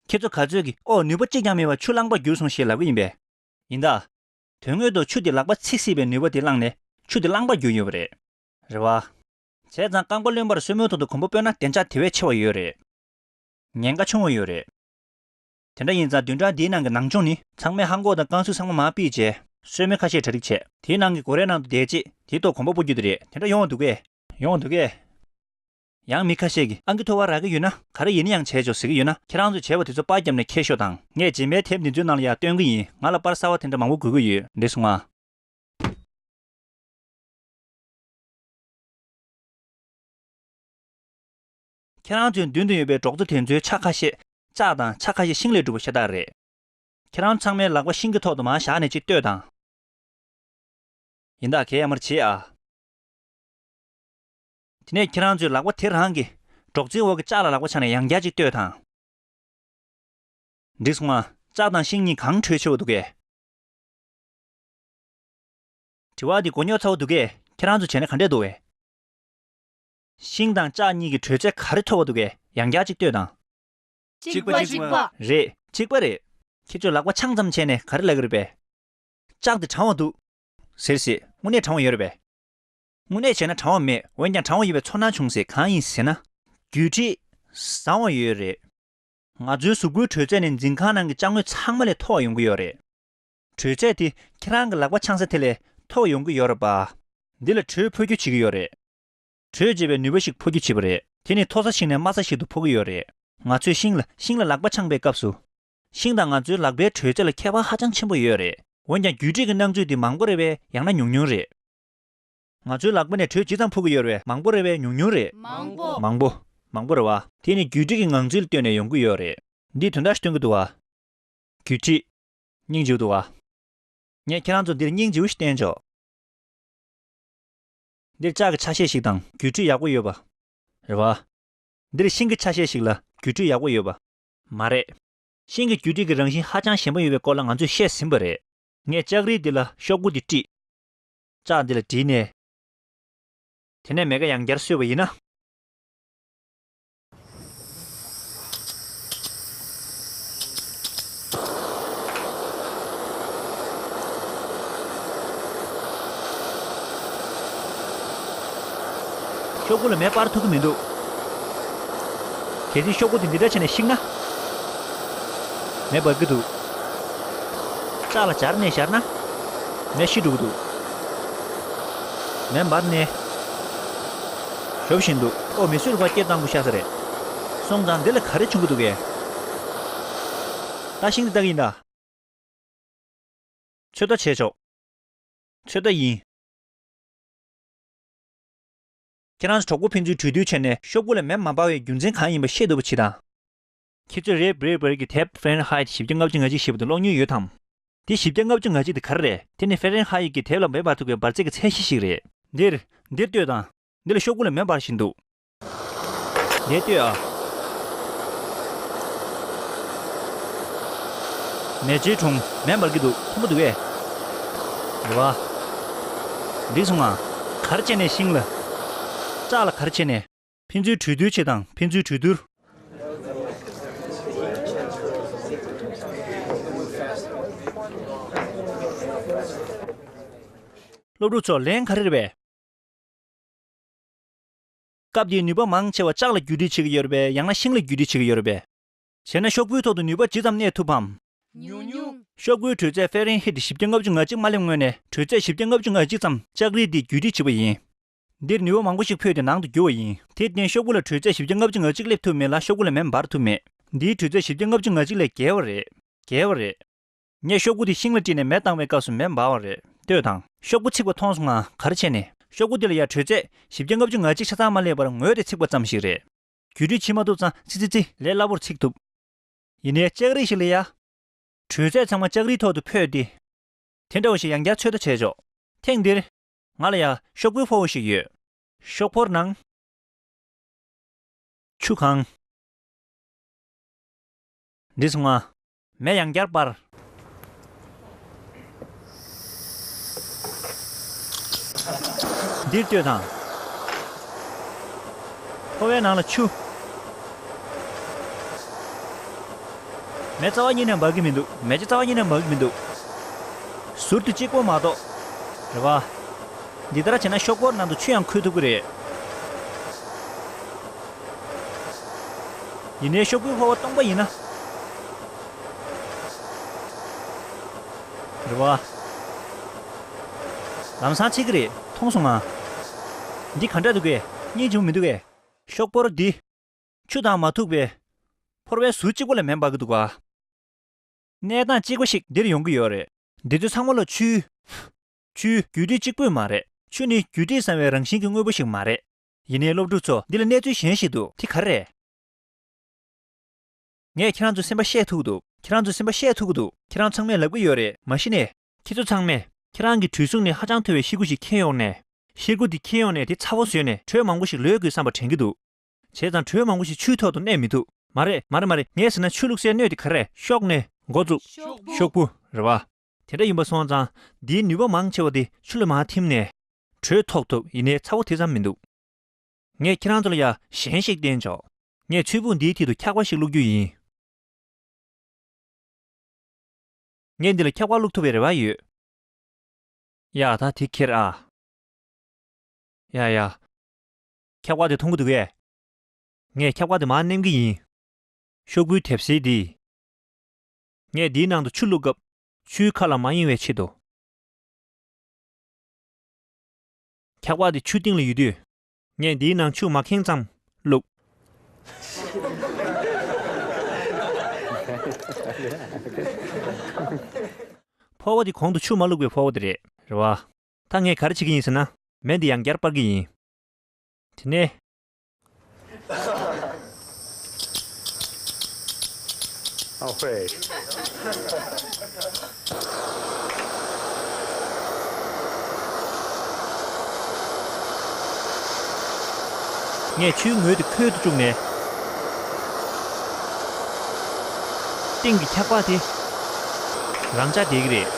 ཁྱེད་ཚོ་ག་ཚོད་ཀྱིས་ཨོ་ནུས་པ་གཅིག་ཀྱང་མེད་པར་ཆུ་བླངས་པར་གྱུར་སོང་ཞེས་ལབ་ཀྱི་ཡིན་པས། ཡིན་ད། དོན་དངོས་ཐོག་ཆུ་དེ་ལག་པ་ཚིག་སྲིད་པའི་ནུས་པ་དེ་བླངས་ནས་ཆུ་དེ་བླངས་པར་གྱུར་ཡོད་པ་རེད། རེད་བ། བྱས་ཙང་རྐང་པ་བརློན་པར་སོས་མོད་ཐོག་ཏུ་གོམ་པ་སྤོས་ན་བདེ་འཇགས་དེ་བས་ཆེ་བ་ཡོད་རེད། ཉེན་ཁ་ཆུང་བ་ཡོད་རེད། དེ་འདྲ་ཡིན་ཙང་བདུན་ཕྲག་འདིའི་ནང་གི་ནང་སྦྱོང་ནི། ཚང་མས་ཧང་ཀོག་དང་ཀང་སུའུ་ཚང་མ་མར་སྤིའི་རྗེས། སོས་མོ་ཁ་ཤས་གྲ་སྒྲིག་བྱས། དེའི་ནང་གི་སྒོ་རའི་ནང་དུ་བསྡད་རྗེས་དེའི་ཐོག་གོམ་པ་སྤོ་རྒྱུ་དེ་རེད་དེ་འདྲ་ཡོང་བ་འདུག་གས། ཡོང་བ་འདུག་གས། ཡང་མི་ཁ་ཤས་ཀྱིས་ཨང་ཀི་ཐོ་བ་རག་གི་ཡོད་ན་ག་རེ་ཡིན་ཡང་བྱས་ཆོག་ཟེར་གི་ཡོད་ན་ཁྱེད་རང་ཚོས་བྱས་པ་དེ་ཚོ་པར་བརྒྱབ་ནས་ཁྱེར་ཤོག་དང། ངས་རྗེས་མའི་དེབ་འདི་ཚོའི་ནང་ལ་ཡང་སྟོན་གི་ཡིན་ང་ལ་པར་གསར་བ་དེ་འདྲ་མང་བོ་དགོས་ཀྱི་ཡོད། འདི་སོང་ང། ཁྱེད་རང་ཚོའི་མདུན་དུ་ཡོད་པའི་གྲོགས་ཚོ་དེ་ཚོའི་ཕྱག་ཁ་ཤས་ལྕགས་དང་ཕྱག་ཁ་ཤས་ཤིང་ལས་གྲུབ་པ་ཤ་སྟག་རེད། ཁྱེད་རང་ཚང་མའི་ལག་པ་ཤིང་གི་ཐོག་ཏུ་མ་བཞག་ནས་ཅིག་ལྟོས་དང། ཡིན་ད་གས་ཡ་མར་བྱེད་ཨ། དེ་ནས་ཁྱེད་རང་ཚོས་ལག་པ་དེ་རང་གི་སྒྲོག་ཙེའི་འོག་གི་ལྕགས་ལ་ལག་པ་ཆགས་ནས་ཡང་བརྒྱ་གཅིག་ལྟོས་དང། འདི་སོང་ང། ལྕགས་དང་ཤིང་གཉིས་གང་འཕྲོད་ཆེ་བ་འདུག་གས། དྲི་བ། འདི་མགོ་རྙོག་ཚ་བོ་འདུག་གས་ཁྱེད་རང་ཚོ་བྱས་ན་ག་འདྲས་འདུག་གས། ཤིང་དང་ལྕགས་གཉིས་ཀྱི་དྲོད་ཚད་ག་རེ་མཐོ་བ་འདུག་གས་ཡང་བརྒྱ་གཅིག་ལྟོས་དང། གཅིག་པ་གཅིག་པ། རེད། གཅིག་པ་རེད། ཁྱེད་ཚོས་ལག་པ་འཆང་ཙམ་བྱས་ནས་ག་རེ་ལབ་ཀྱི་རེད་པས། ལྕགས་འདི་གྲང་བ་འདུག། ཟེར་སྲིད་དངོས་གནས་གྲང་བ་ཡོད་རེད་པས། དངོས་གནས་བྱས་ན་དྲང་བ་མེད་འོན་ཀྱང་དྲང་བ་ཡོད་པའི་ཚོར་སྣང་བྱུང་ཚེ་གང་ཡིན་ཟེར་ན། རྒྱུ་ཁྲིད། བཟང་བ་ཡོད་རེད། ང་ཚོའི་གཟུགས་པོའི་དྲོད་ཚད་ནི་འཛིན་ཁང་ནང་གི་དཔྱ་དངོས་ཚང་མ་ལས་མཐོ་བ་ཡོང་གི་ཡོད་རེད། དྲོད་ཚད་དེ་ཁྱེད་རང་གི་ལག་པ་འཆང་ས་དེ་ལས་མཐོ་བ་ཡོང་གི་ཡོད་རེད་པ། འདི་ལ་དྲོད་འཕོ་འགྱུར་བྱེད་ཀྱི་ཡོད་རེད། དྲོད་འཇལ་བའི་ནུས་པ་ཞིག་འཕོ་འགྱུར་བྱེད་པ་རེད། དེ་ནི་མཐོ་ས་ཞིག་ནས་དམའ་ས་ཞིག་ཏུ་འཕོ་གི་ཡོད་རེད། ང་ཚོས་ཤིང་ལ་ཤིང་ལ་ལག་པ་འཆང་པའི་སྐབས་སུ། ཤིང་དང་ང་ཚོའི་ལག་པའི་དྲོད་ཚད་ལ་ཁྱད་པར་ཧ་ཅང་ཆེན་པོ་ཡོད་རེད། འོན་ཀྱང་རྒྱུ་ཁྲིད་ཀྱི་སྣང་ཚུལ་དེ་མང་པོ་རེད་པས་ཡང་ན་ཉུང་ཉུང་རེད། ང་ཚོའི་ལག་པ་ནས་དྲོད་ཇི་ཙམ་ཕུག་གི་ཡོད་རེད། མང་པོ་རེད་བས་ཉུང་ཉུང་རེད། མང་པོ། མང་པོ། མང་པོ་རེད་བ། དེ་ནི་བརྒྱུད་སྒྲིག་གི་ངང་ཚུལ་སྟོན་ནས་ཡོང་གི་ཡོད་རེད། འདིས་དོན་དག་ཞིག་སྟོན་གི་འདུག་བ། བརྒྱུད་སྒྲིག། སྙིང་རྗེའུ་འདུག་བ། ངས་ཁྱེད་རང་ཚོར་འདིར་སྙིང་རྗེའུ་ཞིག་བསྟན་ཆོག། འདིར་ལྕགས་ཀྱི་ཆ་ཤས་ཤིག་དང་བརྒྱུད་སྒྲིག་ཡག་པོ་ཡོད་བ། རེད་བ། འདིར་ཤིང་གི་ཆ་ཤས་ཤིག་ལ་བརྒྱུད་སྒྲིག་ཡག་པོ་ཡོད་བ། མ་རེད། ཤིང་གི་བརྒྱུད་སྒྲིག་གི་རང་བཞིན་ཧ་ཅང་ཞན་པོ་ཡོད་པའི་སྐོར་ལ་ང་ཚོས་བཤད་ཟིན་པ་རེད། ངས་ལྕགས་རིལ་འདི་ལ་ཤོག་བུ་འདི་དཀྲིས། ལྕགས་འདི་ལ་བྲིས་ནས། དེ་ནས་མེ་ཀ་ཡང་བརྒྱར་བསུས་པ་ཡིན་ན། ཤོག་གུ་ལ་མེ་སྤར་ཐུབ་ཀྱི་མི་འདུག། གལ་སྲིད་ཤོག་གུ་དེ་འདི་འདྲ་བྱས་ནས་བཤིག་ན། མེ་འབར་གྱི་འདུག། ལྕགས་ལ་སྦྱར་ནས་བཞར་ན། ནས་ཤི་འགྲོ་གི་འདུག། མེ་འབར་ནས་ཞོ་བཞིན་འདུག། ཨོ་མི་སུས་བ་སྐྱེས་སྟངས་བུ་ཤ་ས་རེད། སོང་ཙང་འདི་ལ་ག་རེ་བྱུང་གི་འདུག་གས། ད་ཤིང་འདི་ལྟ་གི་ཡིན་ད། ཚོད་ལྟ་བྱས་ཆོག། ཚོད་ལྟ་ཡིན། ཁྱེད་རང་གྲོགས་པོ་ཕན་ཚུན་གྲོས་བསྡུར་བྱས་ནས་ཤོག་བུ་ལ་མེ་མ་འབར་བའི་རྒྱུ་མཚན་གང་ཡིན་པ་ཤེས་ཐུབ་པ་བྱེད་དང། ཁྱེད་ཚོས་རེད་བེར་བེར་གྱི་དེབ Fahrenheit བཞི་བརྒྱ་ལྔ་བཅུ་ང་གཅིག་ཞེས་པ་དེ་ཀློག་མྱོང་ཡོད་དམ། དེ་བཞི་བརྒྱ་ལྔ་བཅུ་ང་གཅིག་དེ་ག་རེ་རེད་དེ་ནི Fahrenheit གྱི་དེབ་ལ་མེ་འབར་ཐུབ་པའི་འབར་རྫས་ཀྱི་ཚད་གཞི་ཞིག་རེད། འདིར། འདིར་ལྟོས་དང། འདི་ལ་ཤོག་གུ་ལ་མེ་འབར་བཞིན་འདུག། འདིར་ལྟོས་ཨ། མེ་ལྕེའི་དྲུང། མེ་འབར་གྱི་འདུག་མཐོན་པོ་འདུག་ཨེ། རེ་བ། འགྲིག་སོང་ང། གར་བྱས་ནས་ཤིང་ལ། བཀྲག་ལ་གར་བྱས་ནས། ཕན་ཚུན་གྲོས་བསྡུར་བྱེད་དང་ཕན་ཚུན་གྲོས་བསྡུར། སློབ་ཕྲུག་ཚོར་ལན་ཁ་རེར་བས། སྐབས་དེའི་ནུས་པ་མང་ཆེ་བ་ལྕགས་ལ་བརྒྱུད་སྒྲིག་བྱེད་ཀྱི་ཡོད་རེད་པས་ཡང་ན་ཤིང་ལ་བརྒྱུད་སྒྲིག་བྱེད་ཀྱི་ཡོད་རེད་པས། བྱས་ན་ཤོག་བུའི་ཐོག་ཏུ་ནུས་པ་ཇི་ཙམ་གནས་ཐུབ་བམ། ཉུང་ཉུང། ཤོག་བུའི་དྲོད་ཚད་ཧྥེ་རེན་ཧིཏ་བཞི་བརྒྱ་ལྔ་བཅུ་ང་གཅིག་མ་སླེབས་སྔོན་ནས་དྲོད་ཚད་བཞི་བརྒྱ་ལྔ་བཅུ་ང་གཅིག་ཙམ་ལྕགས་རིལ་འདིས་བརྒྱུད་སྒྲིག་བྱེད་པ་ཡིན། འདིར་ནུས་བ་མང་པོ་ཞིག་ཕུད་དེ་ནང་དུ་བསྒྱུར་བ་ཡིན། དེར་བརྟེན་ཤོག་བུ་ལ་དྲོད་ཚད་བཞི་བརྒྱ་ལྔ་བཅུ་ང་གཅིག་སླེབས་ཐུབ་མེད་ལ་ཤོག་བུ་ལ་མེ་འབར་ཐུབ་མེད། འདིའི་དྲོད་ཚད་བཞི་བརྒྱ་ལྔ་བཅུ་ང་གཅིག་ལས་བརྒལ་བ་རེད། བརྒལ་བ་རེད། ངས་ཤོག་བུ་དེ་ཤིང་ལ་དཀྲིས་ནས་མེ་བཏང་བའི་སྐབས་སུ་མེ་འབར་བ་རེད་ལྟོས་དང། ཤོག་བུ་ཚིག་པ་མཐོང་སོང་ངང་གར་ཕྱེ་ནས། ཤོག་བུ་འདི་ལ་ཡང་དྲོད་ཚད་བཞི་བརྒྱ་ལྔ་བཅུ་ང་གཅིག་ཆ་ཚང་མ་སླེབས་པར་ངོས་དེ་ཚིག་པ་ཙམ་ཞིག་རེད། རྒྱུད་དྲི་ཕྱིན་མ་ཐུབ་ཙང་ཚི་ཚི་ཚི། ལས་སླ་བོར་ཚིག་ཐུབ། ཡིན་ནའི་ལྕགས་རིགས་ཤིག་ལས་ཡ། དྲོད་ཚད་ཚང་མ་ལྕགས་རིའི་ཐོག་ཏུ་འཕོས་ཏེ། དེ་འདྲ་བ་ཞིག་ཡང་བསྐྱར་ཚོད་ལྟ་བྱས་ཆོག། ཐེངས་འདིར། ང་ལ་ཡང་ཤོག་བུའི་ཕོ་བོ་ཞིག་ཡོད། ཤོག་ཕོར་ནང། ཆུ་གང། འདི་སོང་ང། མེ་ཡང་བསྐྱར་སྤར། འདིར་ལྟོས་དང། ཕོ་བའི་ནང་ལ་ཆུ། མེ་རྩ་བ་གཉིས་ནས་འབར་གི་མི་འདུག། མེ་ལྕེ་རྩ་བ་གཉིས་ནས་འབར་གི་མི་འདུག། ཟུར་དུ་གཅིག་པོ་མ་གཏོགས། རེད་བ། འདི་ལྟར་བྱས་ན་ཤོག་སྒོར་ནང་དུ་ཆུ་ཡང་འཁོལ་ཐུབ་ཀྱི་རེད། ཡིན་ནའི་ཤོག་བུའི་ཕོར་བ་སྟོང་པ་ཡིན་ན། རེད་བ། ལམ་སང་ཆད་ཀྱི་རེད་མཐོང་སོང་ང། འདི་གང་འདྲ་འདུག་གས། སྙིང་བྱུང་མི་འདུག་གས། ཤོག་སྒོར་འདི། ཆུ་དང་མ་ཐུག་པའི། ཕོར་བའི་ཟུར་གཅིག་པོ་ལས་མེ་འབར་གྱི་འདུག་ག། གནས་སྟངས་གཅིག་པ་ཞིག་འདིར་ཡོང་གི་ཡོད་རེད། འདི་ཚོ་ཚང་མ་ལ་ཆུའི། ཆུའི་རྒྱུད་སྒྲིག་གཅིག་པོས་མ་རེད། ཆུ་ནི་རྒྱུད་སྒྲིག་བཟང་བའི་རང་བཞིན་གྱི་དངོས་པོ་ཞིག་མ་རེད། ཡིན་ནའི་སློབ་ཕྲུག་ཚོ་འདི་ལ་གནས་ཚུལ་གཞན་ཞིག་འདུག་དེ་ག་རེད། ངས་ཁྱེད་རང་ཚོའི་སེམས་པ་ཤེས་ཐུབ་འདུག་ཁྱེད་རང་ཚོའི་སེམས་པ་ཤེས་ཐུབ་ཀྱི་འདུག་ཁྱེད་རང་ཚང་མས་ལབ་ཀྱི་ཡོད་རེད་མ་གཞི་ནས། ཁྱེད་ཚོ་ཚང་མས་ཁྱེད་རང་གི་གྲུའི་གསུང་ནས་ཧ་ཅང་མཐོ་བའི་ཤེལ་སྒོ་ཞིག་འཁྱེར་ཡོང་ནས། ཤེལ་སྒོ་འདི་འཁྱེར་ཡོང་ནས་དེ་ཚ་བོ་བཟོས་ནས་གྲོས་མང་པོ་ཞིག་ལོས་དགོས་བསམ་པ་དྲན་གྱི་འདུག་བྱས་ཙང་གྲོད་མང་པོ་ཞིག་ཆུའི་ཐོག་ཏུ་གནས་མི་ཐུབ། མ་རེད་མ་རེད་མ་རེད་ངས་ཟེར་ན་ཆུ་བླུགས་སའི་སྣོད་དེ་ག་རེ། ཤོག་སྣོད། མགོ་བཙུགས། ཤོག་བུ། རེད་བ། དེ་འདྲ་ཡིན་པ་སོང་ཙང་འདིའི་ནུས་པ་མང་ཆེ་བ་དེ་ཆུ་ལ་མ་ཐིམ་ནས། གྲོད་ཐོག་ཐུབ་ཡིན་ནའི་ཚ་བོ་དེ་ཙམ་མི་འདུག། ངས་ཁྱེད་རང་ཚོ་ལ་ཡ་གཞན་ཞིག་བསྟན་ཆོག། ངས་ཆུ་བུ་འདིའི་མཐིལ་དུ་འཁྱག་པ་ཞིག་བླུགས་རྒྱུ་ཡིན། ངས་འདི་ལ་འཁྱག་པ་བླུགས་ཐུབ་པའི་རེ་བ་ཡོད། ཡ་ད་དེ་ཁྱེར་ཨ། ཡ་ཡ། ཁྱབ་བཀག་དེ་མཐོང་གི་འདུག་གས། ངས་ཁྱབ་བཀག་དེ་མར་བསྣན་གི་ཡིན། ཤོག་བུའི་དེབ་བསིལ་འདི། ངས་འདིའི་ནང་དུ་ཆུ་བླུགས་སྐབས། ཆུའི་ཁ་ལ་མ་གཡེང་བའི་ཆེད་དུ། ཁྱབ་བཀག་དེ་ཆུ་སྟེང་ལ་ཡོད་དུས། ངས་འདིའི་ནང་ཆུ་མ་ཁེངས་ཙམ་བླུགས། ཕོར་བ་དེ་གོང་དུ་ཆུ་མ་བླུགས་པའི་ཕོར་བ་དེ་རེད། རེད་བ། ད་ངས་ག་རེ་བྱེད་ཀྱི་ཡིན་ཟེར་ན། མེ་འདི་ཡང་བསྐྱར་སྤར་གི་ཡིན། དེ་ནས། ངས་ཆུའི་ངོས་དེ་ཁོལ་དུ་བཅུག་ནས། སྟེང་གི་འཁྱག་པགས་དེ་རང་འཇགས་བསྡད་ཀྱི་རེད།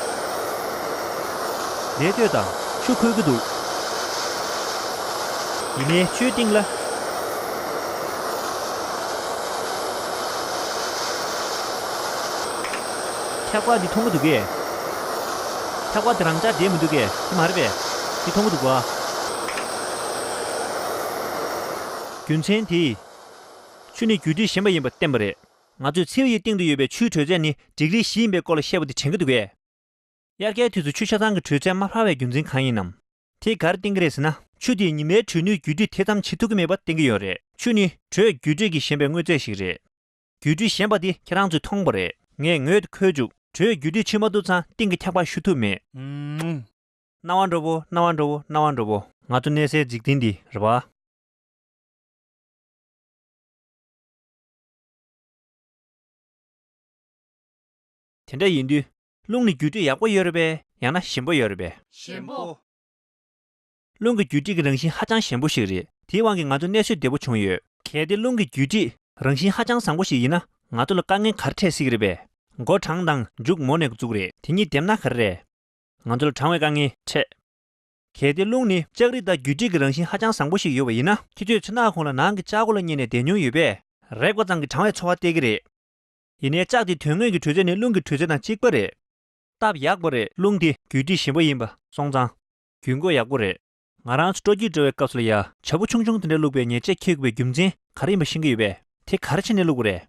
ལས་གཏོད་དང་ཆུ་འཁོལ་གྱི་འདུག། ཡིན་ནའི་ཆུའི་གཏིང་ལ། འཁྱག་པ་འདི་མཐོང་གི་འདུག་གས། འཁྱག་པ་འདི་རང་ཅག་འདྲེས་མི་འདུག་གས་དེ་མ་རེད་པས། འདི་མཐོང་གི་འདུག་བ། རྒྱུ་མཚན་དེས། ཆུ་ནི་རྒྱུ་འབྲས་གཞན་པ་ཡིན་པར་བསྟན་པ་རེད། ང་ཚོས་མཚེའུ་ཡི་གཏིང་དུ་ཡོད་པའི་ཆུའི་དྲོད་ཚད་ནི་འགྲིག་ལེགས་བཞི་ཡིན་པའི་སྐོར་ལ་བཤད་པ་འདི་དྲན་གྱི་འདུག་གས། དབྱར་ཁའི་དུས་སུ་ཆུ་ཆ་ཚང་གི་དྲོད་ཚད་མ་འཕར་བའི་རྒྱུ་མཚན་གང་ཡིན་ནམ། དེ་གར་བསྟེན་གྱི་རེད་ཟེར་ན། ཆུ་དེས་ཉི་མའི་དྲོད་ནུས་བརྒྱུད་སྤྲོད་དེ་ཙམ་བྱེད་ཐུབ་ཀྱི་མེད་པ་བསྟན་གྱི་ཡོད་རེད། ཆུ་ནི་དྲོད་བརྒྱུད་སྤྲོད་ཀྱི་ཞན་པའི་དངོས་རྫས་ཤིག་རེད། བརྒྱུད་སྤྲོད་ཞན་པ་དེ་ཁྱེད་རང་ཚོས་མཐོང་པ་རེད། ངས་ངོས་དེ་འཁོད་བཅུག་དྲོད་བརྒྱུད་སྤྲོད་བྱེད་མ་ཐུབ་ཚང་སྟེང་གི་འཁྱག་པ་ཞུ་ཐུབ་མེད། རྣ་བ་འགྲོ་བོ་རྣ་བ་འགྲོ་བོ་རྣ་བ་འགྲོ་བོ། ང་ཚོ་གནས་སའི་འཇིག་རྟེན་འདི་རེད་བ། དེ་འདྲ་ཡིན་དུས། རླུང་ནི་འགྱུ་འཕྲིག་ཡག་པོ་ཡོད་རེད་པས་ཡང་ན་ཞན་པོ་ཡོད་རེད་པས། ཞན་པོ། རླུང་གི་འགྱུ་འཕྲིག་གི་རང་བཞིན་ཧ་ཅང་ཞན་པོ་ཞིག་རེད་དེའི་དབང་གིས་ང་ཚོ་གནས་ཤུལ་བདེ་པོ་བྱུང་ཡོད། གལ་ཏེ་རླུང་གི་འགྱུ་འཕྲིག་རང་བཞིན་ཧ་ཅང་བཟང་པོ་ཞིག་ཡིན་ན་ང་ཚོ་ལ་དཀའ་ངལ་ག་རེ་འཕྲད་སྲིད་ཀྱི་རེད་པས། མགོ་གྲང་དང་མཇུག་མོ་ནས་གཙུག་རེད་དེ་གཉིས་བསྡེབས་ན་ག་རེ་རེད། ང་ཚོ་ལ་གྲང་བའི་དཀའ་ངལ་འཕྲད། གལ་ཏེ་རླུང་ནི་ལྕགས་རིགས་དང་འགྱུ་འཕྲིག་གི་རང་བཞིན་ཧ་ཅང་བཟང་པོ་ཞིག་ཡོད་པ་ཡིན་ན། ཁྱེད་ཚོས་ཚོན་མདངས་ཁོང་ལ་ནང་གི་ལྕགས་སྒོ་ལ་བསྙེས་ནས་བསྡད་མྱོང་ཡོད་པས། རེག་པ་ཙམ་གྱིས་གྲང་བའི་ཚོར་བ་སྟེར་གི་རེད། ཡིན་ནའི་ལྕགས་དེ་དོན་དངོས་ཀྱི་དྲོད་ཚད་ནི་རླུང་གི་དྲོད་ཚད་དང་གཅིག་པ་རེད། སྟབས་ཡག་པོ་རེད་རླུང་དེ་རྒྱུད་དྲི་ཞིམ་པོ་ཡིན་པ་སོང་ཙང། རྒྱུད་མགོ་ཡག་པོ་རེད། ང་རང་ཚོ་སྤྲོ་སྐྱིད་འགྲོ་བའི་སྐབས་སུ་ལ་ཡ་བྱ་སྤུ་ཆུང་ཆུང་དེ་འདྲ་བླུགས་པའི་ཉེས་ཆད་འཁྱེར་དགོས་པའི་རྒྱུ་མཚན་ག་རེ་ཡིན་པ་ཤེས་ཀྱི་ཡོད་པས་དེ་ག་རེ་བྱས་ནས་བླུགས་པ་རེད།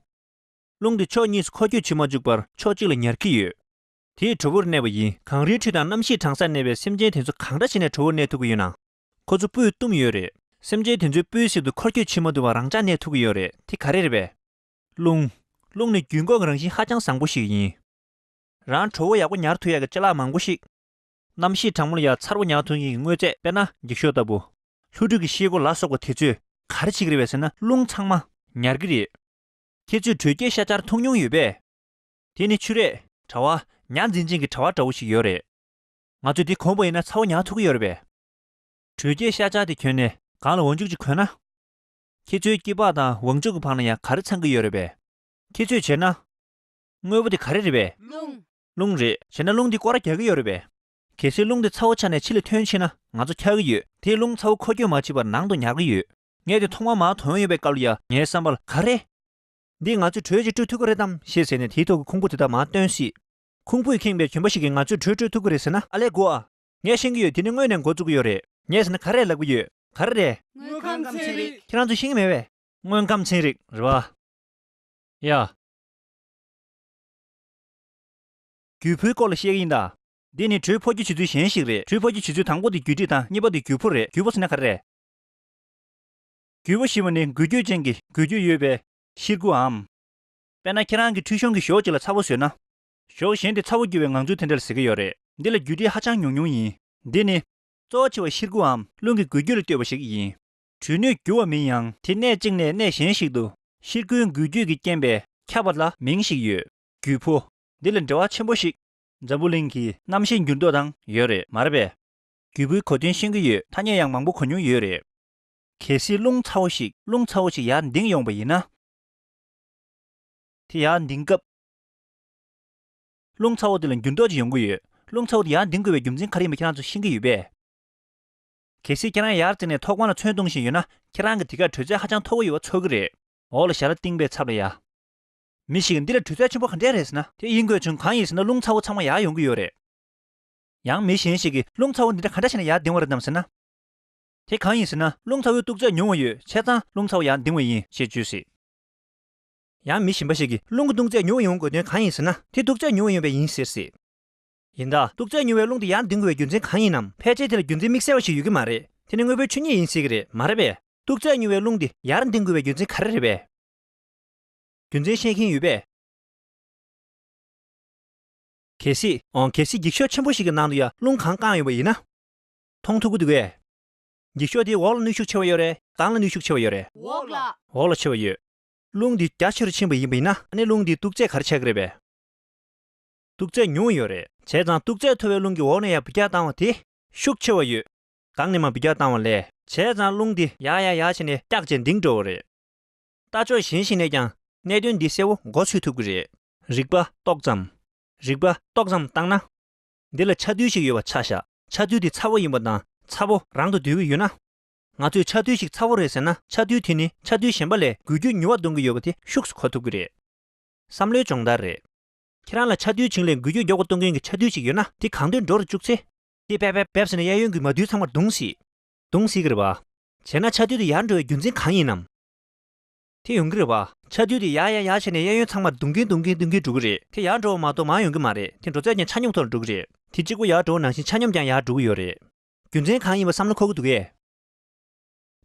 རླུང་དེ་ཕྱོགས་གཉིས་སུ་འཁོར་སྐྱོད་བྱེད་མ་བཅུག་པར་ཕྱོགས་གཅིག་ལ་ཉར་གྱི་ཡོད། དེས་དྲོ་བོར་གནས་པ་ཡིན། གངས་རིའི་ཁྲོད་དང་གནམ་གཤིས་གྲང་སར་གནས་པའི་སེམས་ཅན་དེ་ཚོ་གང་འདྲ་བྱས་ནས་དྲོ་བོར་གནས་ཐུབ་ཀྱི་ཡོད་ནའང། ཁོ་ཚོ་སྤུས་བཏུམས་ཡོད་རེད། སེམས་ཅན་དེ་ཚོའི་སྤུའི་གསེབ་ཏུ་འཁོར་སྐྱོད་བྱེད་མ་ཐུབ་པར་རང་འཇགས་གནས་ཐུབ་ཀྱི་ཡོད་རེད་དེ་ག་རེ་རེད་པས། རླུང། རླུང་ནི་རྒྱུན་འགོག་གི་རང་བཞིན་ཧ་ཅང་བཟང་པོ་ཞིག་ཡིན། རང་ཁྲོ་བོ་ཡག་པོ་ཉར་ཐུལ་ཡག་གི་ལྕེ་ལག་མང་པོ་ཞིག། གནམ་གཤིས་གྲང་མོ་ལ་ཡ་མཚར་བོ་ཉར་ཐུལ་མཁན་གྱི་དངོས་རྫས་དཔེར་ན་འགྱིག་ཤོག་ལྟ་བུ། ལྷུ་གྲུ་གི་ཤེལ་སྒོ་ལ་སོགས་པ་དེ་ཚོས་ག་རེ་བྱེད་ཀྱི་རེད་བས་ཟེར་ན་རླུང་ཚང་མ་ཉར་གྱི་རེད། ཁྱེད་ཚོས་དྲོད་སྐྱེད་ཤ་ཆར་འཐུང་མྱོང་ཡོད་པས། དེ་ནི་ཆུ་རེད། དྲ་བ། ཉར་འཛིན་ཅན་གྱི་དྲ་བ་འདྲ་བོ་ཞིག་ཡོད་རེད། ང་ཚོས་དེ་གོང་བུ་ཡིན་ན་ཚ་བོ་ཉར་ཐུལ་གྱི་ཡོད་རེད་པས། དྲོད་སྐྱེད་ཤ་ཆར་དེ་གྱོན་ནས་སྒང་ལ་འོ་མཇུག་ཅིག་གོན་ན། ཁྱེད་ཚོའི་སྐྱི་པགས་དང་ཝང་ཅུག་གི་བར་ན་ཡང་ག་རེ་ཚང་གི་ཡོད་རེད་པས། ཁྱེད་ཚོས་བྱས་ན། དངོས་པོ་དེ་ག་རེ་རེད་པས། རླུང། རླུང་རེད། བྱས་ན་རླུང་དེ་སྐོར་རྒྱག་གི་ཡོད་རེད་པས། གལ་སྲིད་རླུང་དེ་ཚ་བོ་ཆགས་ནས་ཕྱི་ལ་ཐོན་ཕྱིན་ན་ང་ཚོ་འཁྱག་གི་ཡོད། དེས་རླུང་ཚ་བོ་འཁོར་སྐྱོད་མ་བྱས་པར་ནང་དུ་ཉར་གི་ཡོད། ངས་དེ་ཐོག་མར་མར་དོན་ཡོད་པའི་སྐབས་ལ་ཡ། ངའི་བསམ་པར་ག་རེ། འདིས་ང་ཚོས་དྲོད་ཅིག་སྤྲོད་ཐུབ་ཀི་རེད་དམ་ཞེས་ཟེར་ནས་དེའི་ཐོག་གི་ཁུང་བུ་དེ་དག་མར་བཏོན་སྲིད། ཁུང་བུས་ཁེངས་པའི་གྱོན་པ་ཞིག་གིས་ང་ཚོས་དྲོད་སྤྲོད་ཐུབ་ཀི་རེད་ཟེར་ན། ཨ་ལས་གོ་ཨ། ངས་ཤེས་ཀྱི་ཡོད་དེ་ནི་དངོས་ནས་འགོ་བཙུགས་ཀྱི་ཡོད་རེད། ངས་ཟེར་ན་ག་རེ་ལབ་ཀྱི་ཡོད། ག་རེ་རེད། དངོས་ཁམས་ཚན་རིག། ཁྱེད་རང་ཚོས་ཤེས་ཀྱི་མེད་བས། དངོས་ཁམས་ཚན་རིག་རེད་བ། ཡ། རྒྱུད་ཕུའི་སྐོར་ལ་བཤད་ཀྱི་ཡིན་ད། འདི་ནི་དྲོད་ཕོག་རྒྱུ་བྱེད་ཚུལ་གཞན་ཞིག་རེད། དྲོད་ཕོག་རྒྱུ་བྱེད་ཚུལ་དང་པོ་དེ་རྒྱུད་དྲིས་དང་གཉིས་པ་དེ་རྒྱུད་ཕུ་རེད། རྒྱུད་ཕུ་ཟེར་ན་ག་རེ་རེད། རྒྱུད་ཕུ་ཞེས་པ་ནི་འགུལ་སྐྱོད་ཅན་གྱི་འགུལ་སྐྱོད་ཡོད་པའི་ཤིར་ཁུའམ། དཔེར་ན་ཁྱེད་རང་གིས་ཁྲུས་གཞོང་གི་གཞོགས་གཅིག་ལ་ཚ་བོ་ཟོས་ན། ཞོགས་ཞེན་དེ་ཚ་བོ་རྒྱུ་བའི་ངང་ཚུལ་དེ་འདྲ་ལ་ཟེར་གྱི་ཡོད་རེད། འདི་ལ་རྒྱུ་དེ་ཧ་ཅང་ཉུང་ཉུང་ཡིན། འདི་ནི། གཙོ་བོ་ཆེ་བ་ཤིར་ཁུའམ་རླུང་གི་འགུལ་སྐྱོད་ལ་ལྟོས་པ་ཞིག་ཡིན། གྲུ་སྣོད་རྒྱུ་བ་མིན་ཡང་དེ་གནས་གཅིག་ནས་གནས་གཞན་ཞིག་ཏུ་ཤིར་ཁུའི་འགུལ་སྐྱོད་ཀྱི་རྐྱེན་པས་ཁྱབ་པ་ལ་མིང་ཞིག་ཡོད། རྒྱུ་བོ། འདི་ལ་འབྲེལ་བ་ཆེན་པོ་ཞིག། འཛམ་བུ་གླིང་གི་གནམ་ཤེལ་འགྱུར་ལྡོག་དང་ཡོད་རེད་མ་རེད་པས། རྒྱུ་བོའི་གོ་དོན་ཤེས་ཀྱི་ཡོད་ཐ་སྙད་ཡང་མང་པོ་གོ་མྱོང་ཡོད་རེད། གལ་སྲིད་རླུང་ཚ་བོ་ཞིག་རླུང་ཚ་བོ་ཞིག་ཡར་འདིང་ཡོང་བ་ཡིན་ན། དེ་ཡར་འདིང་སྐབས། རླུང་ཚ་བོ་དེ་ལ་འགྱུར་ལྡོག་ཅིག་ཡོང་གི་ཡོད། རླུང་ཚ་བོ་དེ་ཡར་འདིང་དགོས་པའི་རྒྱུ་མཚན་ག་རེ་ཡིན་པ་ཁྱེད་རང་ཚོ་ཤེས་ཀྱི་ཡོད་པས། གལ་སྲིད་ཁྱེད་རང་ཡར་བརྩིགས་ནས་ཐོག་ཁང་ལ་ཚོན་བཏུང་བཞིན་ཡོད་ན་ཁྱེད་རང་གི་དེ་གར་དྲོད་ཚད་ཧ་ཅང་མཐོ་བོ་ཡོད་པ་ཚོར་གི་རེད། འོག་ལ་ཞྭ་ར་བཏིང་པའི་ཚབ་ལ་ཡ། མི་ཞིག་གིས་འདི་ལ་དྲོད་ཚད་ཆེན་པོ་ག་འདྲས་རེད་ཟེར་ན། དེ་ཡིན་དགོས་བྱུང་གང་ཡིན་ཟེར་ན་རླུང་ཚ་བོ་ཚང་མ་ཡར་ཡོང་གི་ཡོད་རེད། ཡང་མི་གཞན་ཞིག་གིས་རླུང་ཚ་བོ་འདི་འདྲ་ག་འདྲ་བྱས་ན་ཡར་འདིང་བ་རེད་དམ་ཟེར་ན། དེ་གང་ཡིན་ཟེར་ན་རླུང་ཚ་བོའི་སྟུག་ཚད་ཉུང་བ་ཡོད་ཆད་ཙང་རླུང་ཚ་བོ་ཡར་འདིང་བ་ཡིན་ཞེས་བརྗོད་སྲིད། ཡང་མི་གཞན་པ་ཞིག་གིས་རླུང་གི་སྟུག་ཚད་ཉུང་བ་ཡོང་དགོས་དོན་གང་ཡིན་ཟེར་ན་དེ་སྟུག་ཚད་ཉུང་བ་ཡིན་པས་ཡིན་ཟེར་སྲིད། ཡིན་ད། སྟུག་ཚད་ཉུང་བའི་རླུང་དེ་ཡང་འདིང་དགོས་པའི་རྒྱུ་མཚན་གང་ཡིན་ནམ་ཕལ་ཆེར་དེ་ལ་རྒྱུ་མཚན་དམིགས་བསལ་བ་ཞིག་ཡོད་ཀྱི་མ་རེད་དེ་ནི་དངོས་པོའི་ཆོས་ཉིད་ཡིན་སྲིད་ཀྱི་རེད་མ་རེད་པས། སྟུག་ཚད་ཉུང་བའི་རླུང་དེ་ཡར་འདིང་དགོས་པའི་རྒྱུ་མཚན་ག་རེ་རེད་པས། རྒྱུ་མཚན་ཤེས་མཁན་ཡོད་པས། གལ་སྲིད། འོང་གལ་སྲིད་འགྱིག་ཤོག་ཆེན་པོ་ཞིག་གི་ནང་དུ་ཡར་རླུང་གང་བཀང་ཡོད་པ་ཡིན་ན། མཐོང་ཐུབ་ཀྱི་འདུག་བས། འགྱིག་ཤོག་དེའི་འོག་ལ་ནུས་ཤུགས་ཆེ་བ་ཡོད་རེད་དང་ལ་ནུས་ཤུགས་ཆེ་བ་ཡོད་རེད། འོག་ལ། འོག་ལ་ཆེ་བ་ཡོད། རླུང་འདི་རྒྱ་ཆེར་ཕྱིན་པ་ཡིན་པ་ཡིན་ན། ཨ་ནེ་རླུང་འདིས་དུག་རྫས་གར་བྱས་ཀྱི་རེད་པས། དུག་རྫས་ཉུང་ཡོད་རེད། བྱས་ཙང་དུག་རྫས་མཐོ་བའི་རླུང་གི་འོག་ནས་ཡར་བུ་རྒྱག་བཏང་བ་དེ། ཤུགས་ཆེ་བ་ཡོད། གང་ནས་མ་བུ་རྒྱག་བཏང་བ་ལས། བྱས་ཙང་རླུང་འདི་ཡར་ཡར་ཡར་བྱས་ནས་སྐྱག་བྱས་འདིང་འགྲོ་བ་རེད། ལྟ་ཕྱོགས་གཞན་ཞིག་ནས་ཀྱང་གནད་དོན་འདི་གསལ་བོ་མགོ་ཚོས་ཐུབ་ཀྱི་རེད། རིག་པ་ཏོག་ཙམ། རིག་པ་ཏོག་ཙམ་བཏང་ན། འདི་ལ་ཆ་རྡུལ་ཞིག་ཡོད་པ་ཆ་བཞག་ཆ་རྡུལ་དེ་ཚ་བོ་ཡིན་པ་དང་ཚ་བོ་རང་དུ་སྡུད་ཀྱི་ཡོད་ན། ང་ཚོས་ཆགས་རྡུལ་ཞིག་ཚ་བོ་རེད་ཟེར་ན་ཆགས་རྡུལ་དེ་ནི་ཆགས་རྡུལ་གཞན་པ་ལས་འགུལ་སྐྱོད་མྱུར་བ་གཏོང་གི་ཡོད་པ་དེ་ཤུགས་སུ་གོ་ཐུབ་ཀྱི་རེད། བསམ་བློའི་སྦྱོང་བརྡར་རེད། ཁྱེད་རང་ལ་ཆགས་རྡུལ་བྱིངས་ལས་འགུལ་སྐྱོད་མགྱོགས་པོ་གཏོང་མཁན་གྱི་ཆགས་རྡུལ་ཞིག་ཡོད་ན་དེ་གང་འདོད་འགྲོ་རུ་བཅུག་ཚེ། དེ་བེབ་བེབ་བེབ་ཟེར་ནས་གཡས་གཡོན་གྱི་མ་རྡུལ་ཚང་མར་རྡུང་སྲིད། རྡུང་སྲིད་ཀྱི་རེད་པ། བྱས་ན་ཆགས་རྡུལ་དེ་ཡར་འགྲོ་བའི་རྒྱུ་མཚན་གང་ཡིན་ནམ། དེ་ཡོང་གི་རེད་པ། ཆགས་རྡུལ་དེ་ཡར་ཡར་ཡར་བྱས་ནས་གཡས་གཡོན་ཚང་མར་རྡུང་གིན་རྡུང་གིན་རྡུང་གིན་འགྲོ་གི་རེད། དེ་ཡར་འགྲོ་བ་མ་གཏོགས་མར་ཡོང་གི་མ་རེད་དེ་འགྲོ་ཚད་ཀྱང་ཆ་སྙོམས་ཐོག་ལ་འགྲོ་གི་རེད། དེ་གཅིག་པུ་ཡར་འགྲོ་བ་ནང་བཞིན་ཆ་སྙོམས་ཀྱང་ཡར་འགྲོ་གི་ཡོད་རེད། རྒྱུ་མཚན་གང་ཡིན་པ་བསམ་བློ་འཁོར་གྱི་འདུག་གས།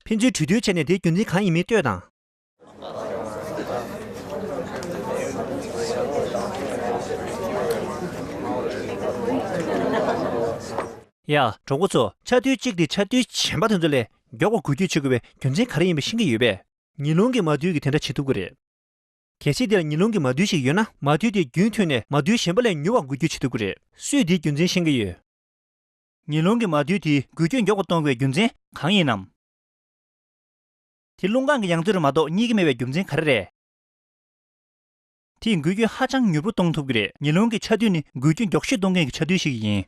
ཕན་ཚུན་གྲོས་བསྡུར་བྱས་ནས་དེའི་རྒྱུ་མཚན་གང་ཡིན་མིན་ལྟོས་དང། ཡ། གྲོགས་པོ་ཚོ་ཆ་རྡུལ་གཅིག་དེ་ཆ་རྡུལ་གཞན་པ་དེ་ཚོ་ལས་མགྱོགས་པ་འགུལ་སྐྱོད་བྱེད་དགོས་པའི་རྒྱུ་མཚན་ག་རེ་ཡིན་པ་ཤེས་ཀྱི་ཡོད་པས། ཉི་རླུང་གིས་མ་རྡུལ་གྱིས་དེ་འདྲ་བྱེད་ཐུབ་ཀྱི་རེད། གལ་སྲིད་འདི་ལ་ཉི་རླུང་གི་མ་རྡུལ་ཞིག་ཡོད་ན་མ་རྡུལ་དེ་རྒྱུན་མཐུད་ནས་མ་རྡུལ་གཞན་པ་ལས་མྱུར་བར་འགུལ་སྐྱོད་བྱེད་ཐུབ་ཀྱི་རེད། སུས་དེའི་རྒྱུ་མཚན་ཤེས་ཀྱི་ཡོད། ཉེ་རླུང་གི་མ་བསྡུས་དེའི་འགུལ་སྐྱོད་མགྱོགས་པོ་གཏོང་བའི་རྒྱུ་མཚན་གང་ཡིན་ནམ། དེ་རླུང་ཁང་གི་ཡང་རྩེ་རུ་མ་གཏོགས་གཉིས་ཀ་མེད་པའི་རྒྱུ་མཚན་ག་རེ་རེད། དེས་འགུལ་སྐྱོད་ཧ་ཅང་མྱུར་པོ་གཏོང་ཐུབ་ཀྱི་རེད་ཉེ་རླུང་གི་ཆ་རྡུལ་ནི་འགུལ་སྐྱོད་མགྱོགས་ཤོས་གཏོང་མཁན་གྱི་ཆ་རྡུལ་ཞིག་ཡིན།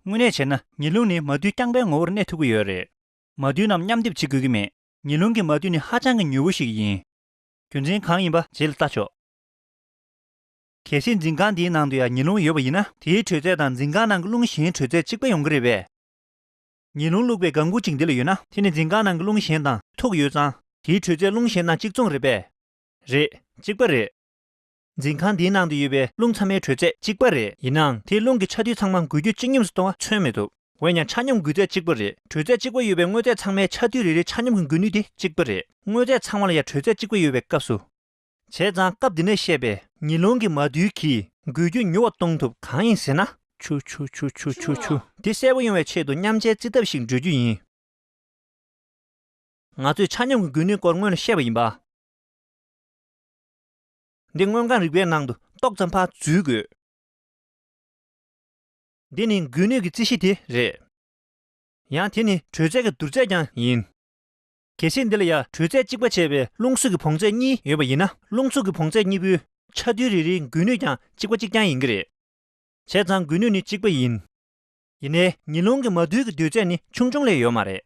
དངོས་གནས་བྱས་ན་ཉེ་རླུང་ནི་མ་བསྡུས་རྐྱང་པའི་ངོ་བོར་གནས་ཐུབ་ཀྱི་ཡོད་རེད། མ་བསྡུས་རྣམས་མཉམ་སྡེབ་བྱེད་དགོས་ཀྱི་མེད། ཉེ་རླུང་གི་མ་བསྡུས་ནི་ཧ་ཅང་གི་མྱུར་བོ་ཞིག་ཡིན། རྒྱུ་མཚན་གང་ཡིན་པ་རྗེས་ལ་བལྟ་ཆོག། གལ་སྲིད་འཛིན་ཁང་དེའི་ནང་དུ་ཡང་ཉི་རླུང་ཡོད་པ་ཡིན་ན། དེའི་དྲོད་ཚད་དང་འཛིན་ཁང་ནང་གི་རླུང་གཞན་དྲོད་ཚད་གཅིག་པ་ཡོང་གི་རེད་པས། ཉི་རླུང་བླུགས་པའི་དགའ་མགུ་གཅིག་འདི་ལ་ཡོད་ན། དེ་ནི་འཛིན་ཁང་ནང་གི་རླུང་གཞན་དང་ཐུག་ཡོད་ཙང། དེའི་དྲོད་ཚད་རླུང་གཞན་དང་གཅིག་མཚུངས་རེད་པས། རེད། གཅིག་པ་རེད། འཛིན་ཁང་དེའི་ནང་དུ་ཡོད་པའི་རླུང་ཚང་མའི་དྲོད་ཚད་གཅིག་པ་རེད། ཡིན་ནའང་དེས་རླུང་གི་ཆ་དུས་ཚང་མ་འགུལ་སྐྱོད་གཅིག་མཉམ་སུ་གཏོང་བ་མཚོན་མེད་དོ། འོན་ཀྱང་ཆ་སྙོམས་འགུལ་ཚད་གཅིག་པ་རེད། དྲོད་ཚད་གཅིག་པ་ཡོད་པའི་དངོས་རྫས་ཚང་མའི་ཆ་དུས་རེ་རེའི་ཆ་སྙོམས་ཀྱི་འགུལ་ནུས་དེ་གཅིག་པ་རེད། དངོས་རྫས་ཚང་མ་ལ་ཡང་དྲོད་ཚད་གཅིག་པ་ཡོད་པའི་སྐབས་སུ། བྱས་ཙང་སྐབས་འདི་ནས་བཤད་པའི་ཉི་ལོང་གི་མ་རྡུལ་གྱིས་འགུལ་རྒྱུ་མྱུར་བ་གཏོང་ཐུབ་གང་ཡིན་ཟེར་ན། ཆུ་ཆུ་ཆུ་ཆུ་ཆུ་ཆུ། དེ་གསལ་པོ་ཡོང་བའི་ཆེད་དུ་མཉམ་བྱའི་རྩིས་ཐབས་ཤིག་འགྲོལ་རྒྱུ་ཡིན། ང་ཚོས་ཆ་སྙོམས་ཀྱི་འགུལ་ནུས་སྐོར་སྔོན་ལ་བཤད་པ་ཡིན་པ། འདི་དངོས་གང་རིག་པའི་ནང་དུ་ཏོག་ཙམ་བར་འཛུལ་དགོས། འདི་ནི་འགུལ་ནུས་ཀྱི་རྩིས་གཞི་དེ་རེད། ཡང་དེ་ནི་དྲོད་ཚད་ཀྱི་བསྡུར་ཚད་ཀྱང་ཡིན། གལ་སྲིད་འདི་ལ་ཡང་དྲོད་ཚད་གཅིག་པ་བྱས་པའི་རླུང་གཟུགས་ཀྱི་བོངས་ཚད་གཉིས་ཡོད་པ་ཡིན་ན་རླུང་གཟུགས་ཀྱི་བོངས་ཚད་གཉིས་པོའི་ཆ་རྡུལ་རེ་རེའི་འགུལ་ནུས་ཀྱང་གཅིག་པ་གཅིག་རྐྱང་ཡིན་གྱི་རེད། བྱས་ཙང་འགུལ་ནུས་ནི་གཅིག་པ་ཡིན། ཡིན་ནའི་ཉི་རླུང་གི་མ་རྡུལ་གྱི་རྡུལ་ཚད་ནི་ཆུང་ཆུང་ལས་ཡོད་མ་རེད།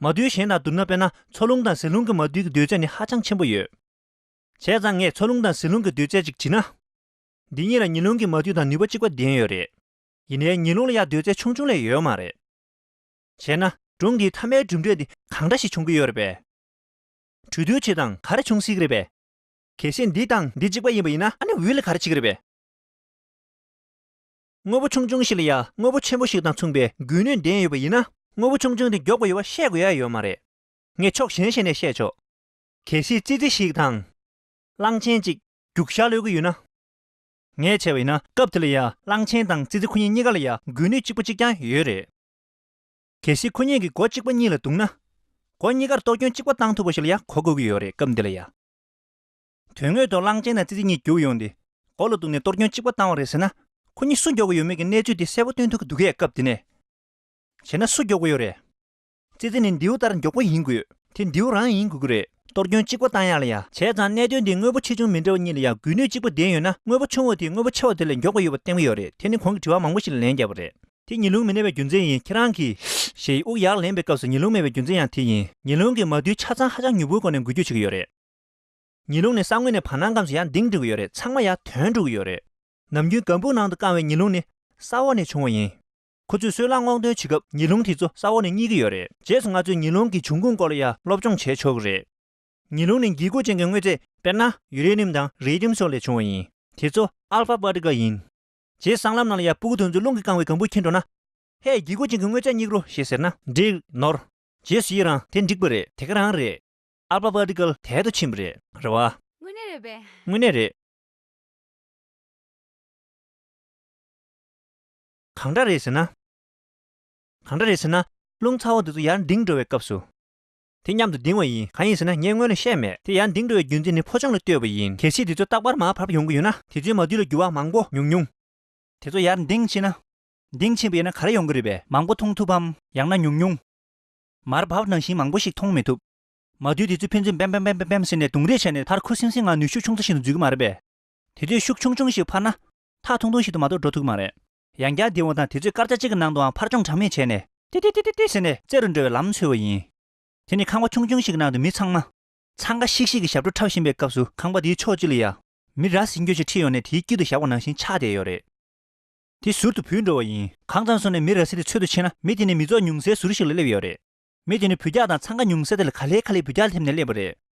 མ་རྡུལ་གཞན་དང་བསྡུར་ན་དཔེར་ན་མཚོ་རླུང་དང་ཟིལ་རླུང་གི་མ་རྡུལ་གྱི་རྡུལ་ཚད་ནི་ཧ་ཅང་ཆེན་པོ་ཡོད། བྱས་ཙང་ངས་མཚོ་རླུང་དང་ཟིལ་རླུང་གི་རྡུལ་ཚད་ཅིག་བྲིས་ན། འདི་གཉིས་ལ་ཉི་རླུང་གི་མ་རྡུལ་དང་ནུས་པ་གཅིག་པ་ལྡན་ཡོད་རེད། ཡིན་ནའི་ཉི་རླུང་ལ་ཡང་རྡུལ་ཚད་ཆུང་ཆུང་ལས་ཡོད་མ་རེད། བྱས་ན་སྒྲུང་འདིའི་མཐའ་མའི་གྲུབ་འབྲས་དེ་གང་འདྲ་ཞིག་བྱུང་གི་ཡོད་རེད་པས། གྲོས་བསྡུར་བྱེད་སྟངས་ག་རེ་བྱུང་སྲིད་ཀྱི་རེད་པས། གལ་སྲིད་འདི་དང་འདི་གཅིག་པ་ཡིན་པ་ཡིན་ན་ཨ་ནི་འོས་ལ་ག་རེ་བྱེད་ཀྱི་རེད་པས། དངོས་པོ་ཆུང་ཆུང་ཞིག་ལ་ཡང་དངོས་པོ་ཆེན་པོ་ཞིག་དང་མཚུངས་པའི་འགུལ་ནུས་ལྡན་ཡོད་པ་ཡིན་ན་དངོས་པོ་ཆུང་ཆུང་དེ་མགྱོགས་པ་ཡོད་པ་བཤད་དགོས་ཡ་ཡོད་མ་རེད། ངས་ཕྱོགས་གཞན་ཞིག་ནས་བཤད་ཆོག། གལ་སྲིད་ཙི་ཙི་ཞིག་དང། གླང་ཆེན་ཅིག་རྒྱུག་ཤ་ལོས་ཀྱི་ཡོད་ན། ངས་བྱས་པ་ཡིན་ན་སྐབས་དེ་ལ་ཡང་གླང་ཆེན་དང་ཙི་ཙི་ཁོ་གཉིས་གཉིས་ཀ་ལ་ཡང་འགུལ་ནུས་གཅིག་པ་གཅིག་རྐྱང་ཡོད་རེད། གལ་སྲིད་ཁོ་གཉིས་ཀྱི་མགོ་གཅིག་པ་གཉིས་ལ་གཏུགས་ན། མགོ་གཉིས་ཀར་གཏོགས་སྐྱོན་གཅིག་པ་བཏང་ཐུབ་པ་ཞིག་ལ་ཡང་གོ་དགོས་ཀྱི་ཡོད་རེད་སྐབས་འདི་ལ་ཡང། དོན་དངོས་ཐོག་གླང་ཆེན་དང་ཙི་ཙི་གཉིས་རྒྱུགས་ཡོང་སྟེ་མགོ་ལ་གཏུགས་ནས་གཏོར་སྐྱོན་གཅིག་པ་བཏང་བ་རེད་ཟེར་ན། ཁོ་གཉིས་སུ་མགྱོགས་ཀྱི་ཡོད་མེད་ཀྱི་གནས་ཚུལ་དེ་གསལ་པོ་སྟོན་ཐུབ་ཀྱི་འདུག་གས་སྐབས་འདི་ནས་བྱས་ན་སུ་མགྱོགས་པོ་ཡོད་རེད། ཙི་ཙི་ནི་མདེའུ་ལྟར་མགྱོགས་པོ་ཡིན་དགོས། དེ་མདེའུ་རང་ཡིན་དགོས་ཀྱི་རེད། གཏོར་སྐྱོན་གཅིག་པ་བཏང་ཡག་ལ་ཡང། བྱས་ཙང་གནད་དོན་དེ་དངོས་པོ་ཆེ་ཆུང་མི་འདྲ་བ་གཉིས་ལ་ཡང་འགུལ་ནུས་གཅིག་པ་ལྡན་ཡོད་ན་དངོས་པོ་ཆུང་བ་དེ་དངོས་པོ་ཆེ་བ་དེ་ལས་མགྱོགས་ཀྱི་ཡོད་པ་བསྟན་གྱི་ཡོད་རེད་དེ་ནི་གོང་གི་དྲི་བ་མང་པོ་ཞིག་ལ་ལན་བརྒྱབ་པ་རེད། དེ་ཉི་ལུང་མི་གནས་པའི་རྒྱུ་མཚན་ཡིན་ཁྱེད་རང་གིས་ཞེས་དབུགས་ཡག་ལེན་པའི་སྐབས་སུ་ཉི་ལུང་མེད་པའི་རྒྱུ་མཚན་ཡང་དེ་ཡིན། ཉི་ལུང་གི་མ་རྡུལ་ཆ་ཚང་ཧ་ཅང་མྱུར་པོའི་སྒོ་ནས་འགུལ་སྐྱོད་བྱེད་ཀྱི་ཡོད་རེད། ཉི་ལུང་ནི་ས་ངོས་ནས་བར་སྣང་ཁམས་སུ་ཡང་གདེང་འགྲོ་གི་ཡོད་རེད་ཚང་མ་ཡང་དོན་འགྲོ་གི་ཡོད་རེད། ནམ་རྒྱུན་སྒམ་སྦུག་ནང་དུ་བཀང་བའི་ཉི་ལུང་ནི་ས་འོག་ནས་བྱུང་བ་ཡིན། ཁོ་ཚོས་སོལ་རླངས་སྔོག་འདོན་བྱེད་སྐབས་ཉི་ལུང་དེ་ཚོ་ས་འོག་ནས་རྙེད་ཀྱི་ཡོད་རེད། རྗེས་སུ་ང་ཚོས་ཉི་ལུང་གི་བྱུང་ཁུངས་སྐོར་ལ་ཡང་སློབ་སྦྱོང་བྱས་ཆོག་གི་རེད། ཉི་ལུང་ནི་འགྱིག་ཁུག་ཅན་གྱི་དངོས་རྫས་དཔེར་ན་ཡུ་རེ་ནིམ་དང་རེ་ལིམ་སོགས་ལས་བྱུང་བ་ཡིན། དེ་ཚོ Alpha Particle ཡིན། རྗེའི་སྲང་ལམ་རྣམས་ལ་ཡང་སྤུ་གུ་དོན་ཚུལ་རླུང་གིས་བཀང་བའི་གང་བུས་ཁེངས་འགྲོ་ན། ལྷའི་རྒྱལ་སྒོ་ཅན་གྱི་དངོས་ཆ་སྙིགས་རོ་ཞེས་ཟེར་ན། འགྲིག། ནོར། རྗེས་སུ་ཡི་རང་དེ་འགྲིག་པ་རེད། དེ་ག་རང་རེད། ཨ་ལྤགས་པགས་འགྲིག་སྐལ་དལ་དུ་ཕྱིན་པ་རེད། རེད་བ། དངོས་གནས་རེད་པས། དངོས་གནས་རེད། གང་འདྲ་རེད་ཟེར་ན། གང་འདྲ་རེད་ཟེར་ན། རླུང་ཚ་བོ་འདི་ཚོ་ཡར་འགྲིངས་འགྲོ་བའི་སྐབས་སུ། དེ་མཉམ་དུ་ལྡིང་བ་ཡིན་གང་ཡིན་ཟེར་ན་ངས་སྔོན་ལ་བཤད་མེད་དེ་ཡང་ལྡིང་འགྲོ་བའི་རྒྱུ་མཚན་ནི་ཕོ་ཆུང་ལ་ལྟོས་པ་ཡིན་གལ་སྲིད་དེ་ཚོ་རྟག་པར་མར་བར་བ་ཡོང་གི་ཡོད་ན། དེ་ཚོའི་མ་དུས་ལ་འགྱུར་བ་མང་པོ་ཉུང་ཉུང། དེ་ཚོ་ཡར་འདིང་ཕྱིན་ན། འདིང་ཕྱིན་པ་ཡིན་ན་ག་རེ་ཡོང་གི་རེད་པས་མང་པོ་མཐོང་ཐུབ་བམ་ཡང་ན་ཉུང་ཉུང། མར་བར་བ་ནང་བཞིན་མང་པོ་ཞིག་མཐོང་མི་ཐུབ། མ་དུས་དེ་ཚོས་ཕན་ཚུན་བེམ་བེམ་བེམ་བེམ་བེམ་ཟེར་ནས་རྡུང་རེས་བྱས་ནས་མཐར་ཁུ་སིང་སིང་ངང་ནུས་ཤུགས་ཆུང་ཚ་ཞིག་ཏུ་འཛུལ་གི་མ་རེད་པས། དེ་ཚོས་ཤུགས་ཆུང་ཆུང་ཞིག་འཕར་ན། ཐག་ཐུང་ཐུང་ཞིག་ཏུ་མ་གཏོགས་འགྲོ་ཐུབ་ཀི་མ་རེད། ཡང་བསྐྱར་འདི་འོང་དང་དུས་ཚོད་སྐར་ཆ་གཅིག་གི་ནང་དུའང་ཕར་འཕྱོང་གྲངས་མེད་བྱས་ནས། ཏི་ཏི་ཏི་ཏི་ཏི་ཟེར་ནས་རྩེ་རུ་འགྲོ་བའི་ལམ་འཚོལ་བ་ཡིན། དེ་ནི་ཁང་པ་ཆུང་ཆུང་ཞིག་གི་ནང་དུ་མི་ཚང་མ། འཚང་ཁ་ཤིག་ཤིག་གིས་ཞབས་བྲོ་འཁྲབ་བཞིན་པའི་སྐབས་སུ་ཁང་པ་དེའི་ཕྱོགས་གཅིག་ལ་ཡ། མི་ར་ཟིང་གྱོད་ཅིག་འཁྲིད་ཡོང་ནས་དེའི་དཀྱིལ་དུ་བཞག་པ་ནང་བཞིན་ཆགས་བསྡད་ཡོད་རེད། དེ་ཟུར་དུ་བུད་འགྲོ་བ་ཡིན། གང་ཙམ་སོང་ནས་མི་ར་ཟིང་དེ་འཚོལ་དུ་ཕྱིན་ན་མི་དེ་ནི་མི་ཚོགས་ཉུང་སའི་ཟུར་ཞིག་ལ་སླེབས་ཡོད་རེད། མི་དེ་ནི་བུ་རྒྱག་དང་འཚང་ཁ་ཉུང་ས་དེ་ལ་ག་ལྷེ་ག་ལྷེ་བུ་རྒྱག་སླེབས་ནས་སླེབས་པ་རེད།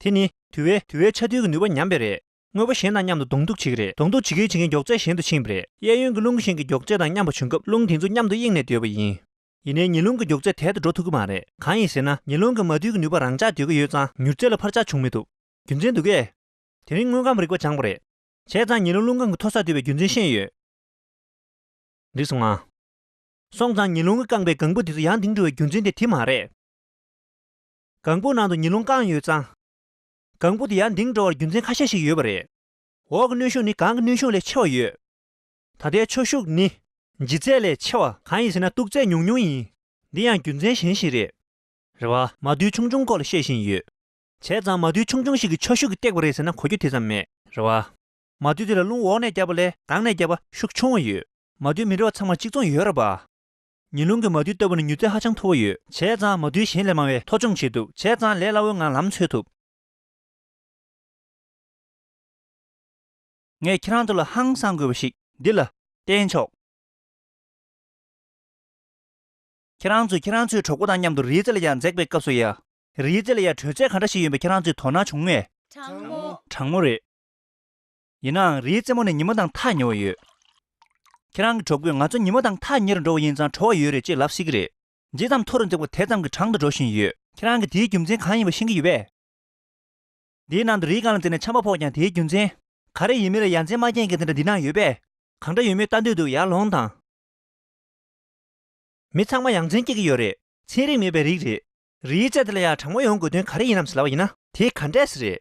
དེ་ནི་དུལ་བའི་དུལ་བའི་ཆ་རྡུལ་གྱི་ནུས་པ་ཉམས་པས་རེད། དངོས་པོ་གཞན་དང་མཉམ་དུ་གདོང་གཏུག་བྱེད་ཀྱི་རེད་གདོང་གཏུག་བྱེད་མཁན་བྱེད་མཁན་མགྱོགས་ཚད་གཞན་དུ་ཕྱིན་པ་རེད། གཡས་གཡོན་གྱི་རླུང་གཞན་གྱི་མགྱོགས་ཚད་དང་མཉམ་པ་བྱུང་སྐབས་རླུང་དེ་ཚོ་མཉམ་དུ་དབྱིངས་ནས་སྡོད་པ་ཡིན། ཡིན་ནའི་ཉི་རླུང་གི་མགྱོགས་ཚད་དལ་དུ་འགྲོ་ཐུབ་ཀྱི་མ་རེད། གང་ཡིན་ཟེར་ན་ཉི་རླུང་གི་མ་རྡུལ་གྱི་ནུས་པ་རང་འཇགས་སྡོད་ཀྱི་ཡོད་ཙང་མྱུར་ཚད་ལ་འཕར་ཆག་བྱུང་མི་ཐུབ། རྒྱུ་མཚན་འདུག་གས། དེ་རིང་དངོས་ཁམས་རིག་པ་སྦྱངས་པ་རེད། བྱས་ཙང་ཉི་རླུང་རླུང་རྐང་གི་མཐོ་སར་སྡོད་པའི་རྒྱུ་མཚན་ཤེས་ཡོད། འགྲིག་སོང་ང། སོང་ཙང་ཉི་རླུང་གི་རྐང་པའི་གང་བུ་དེ་ཚོ་ཡང་དེང་འགྲོ་བའི་རྒྱུ་མཚན་དེ་དེ་མ་རེད། གང་བུ་ནང་དུ་ཉི་རླུང་བཀང་ཡོད་ཙང། གང་བུ་དེ་ཡར་འདིང་འགྲོ་བར་རྒྱུ་མཚན་ཁ་ཤས་ཤིག་ཡོད་པ་རེད། འོག་གི་གནོན་ཤུགས་ནི་གང་གི་གནོན་ཤུགས་ལས་ཆེ་བ་ཡོད། ད་ལྟའི་ཆོས་ཤུགས་ནི། ལྗིད་ཚད་ལས་ཆེ་བ། གང་ཡིན་ཟེར་ན་སྟུག་ཚད་ཉུང་ཉུང་ཡིན། འདི་ཡང་རྒྱུ་མཚན་གཞན་ཞིག་རེད། རེད་བ། མ་རྡུལ་ཆུང་ཆུང་སྐོར་ལ་བཤད་བཞིན་ཡོད། བྱས་ཙང་མ་རྡུལ་ཆུང་ཆུང་ཞིག་གིས་ཆོས་ཤུགས་ཀྱིས་བཏེགས་པ་རེད་ཟེར་ན་གོ་རྒྱུ་དེ་ཙམ་མེད། རེད་བ། མ་རྡུལ་དེ་ལ་རླུང་འོག་ནས་བརྒྱབ་པ་ལས་ནང་ནས་བརྒྱབ་པ་ཤུགས་ཆུང་བ་ཡོད། མ་རྡུལ་མི་འདྲ་བ་ཚང་མར་གཅིག་མཚུངས་ཡོད་རེད་བ། ཉི་ལུང་གི་མ་རྡུལ་ལྟ་བུ་ནི་མྱུར་ཚད་ཧ་ཅང་མཐོ་བོ་ཡོད། བྱས་ཙང་མ་རྡུལ་གཞན་ལས་མང་བས་མཐོ་ཆུང་བྱེད་ཐུབ་བྱས་ཙང་ལས་སླ་བོའི་ངང་ལམ་འཚོལ་ཐུབ། ངས་ཁྱེད་རང་ཚོ་ལ་ཧང་སངས་དགོས་པ་ཞིག་འདི་ལ་བསྟན་ཆོག། ཁྱེད་རང་ཚོས་ཁྱེད་རང་ཚོའི་གྲོགས་པོ་དང་མཉམ་དུ་རིའི་རྩེ་ལ་ཡར་འཛེགས་པའི་སྐབས་སུ་ཡ། རིའི་རྩེ་ལ་ཡར་བྲོས་ཚད་ག་འདྲ་ཞིག་ཡིན་པ་ཁྱེད་རང་ཚོས་དོ་སྣང་བྱུང་ངས། གྲང་མོ། གྲང་མོ་རེད། ཡིན་ནའང་རིའི་རྩེ་མོ་ནས་ཉིན་མོ་དང་ཐག་ཉེ་བ་ཡོད། ཁྱེད་རང་གི་གྲོགས་པོས་ང་ཚོ་ཉིན་མོ་དང་ཐག་ཉེ་རུ་འགྲོ་བ་ཡིན་ཙང་བྲོ་བ་ཡོད་རེད་ཅེས་ལབ་སྲིད་ཀྱི་རེད། ཇི་ཙམ་མཐོ་རུ་འདེགས་པ་དེ་ཙམ་གྱིས་གྲང་དུ་འགྲོ་བཞིན་ཡོད། ཁྱེད་རང་གིས་དེའི་རྒྱུ་མཚན་གང་ཡིན་པ་ཤེས་ཀྱི་ཡོད་པས། འདིའི་ནང་དུ་རིའི་རྐང་ལ་འཛེགས་ནས་ཆམ་པ་ཕོག་ཀྱང་དེའི་རྒྱུ་མཚན། ག་རེ་ཡིན་མིན་ལ་ཡ་མཚན་མ་རྐྱེན་གྱི་དེ་འདྲ་འདི་ན་ཡོད་པས། གང་འདྲ་ཡོད་མེད་ལྟ་འདོད་འདུག་ཡར་ལོངས་དང། མི་ཚང་མ་ཡ་མཚན་སྐྱེ་གི་ཡོད་རེད། ཚན་རིག་མེད་པའི་རིགས་རེད། རིའི་རྩེ་དེ་ལ་ཡར་གྲང་མོ་ཡོང་དགོས་དོན་ག་རེ་ཡིན་ནམ་ཟེར་ལབ་པ་ཡིན་ན། དེ་ག་འདྲས་ཟེར་རེད།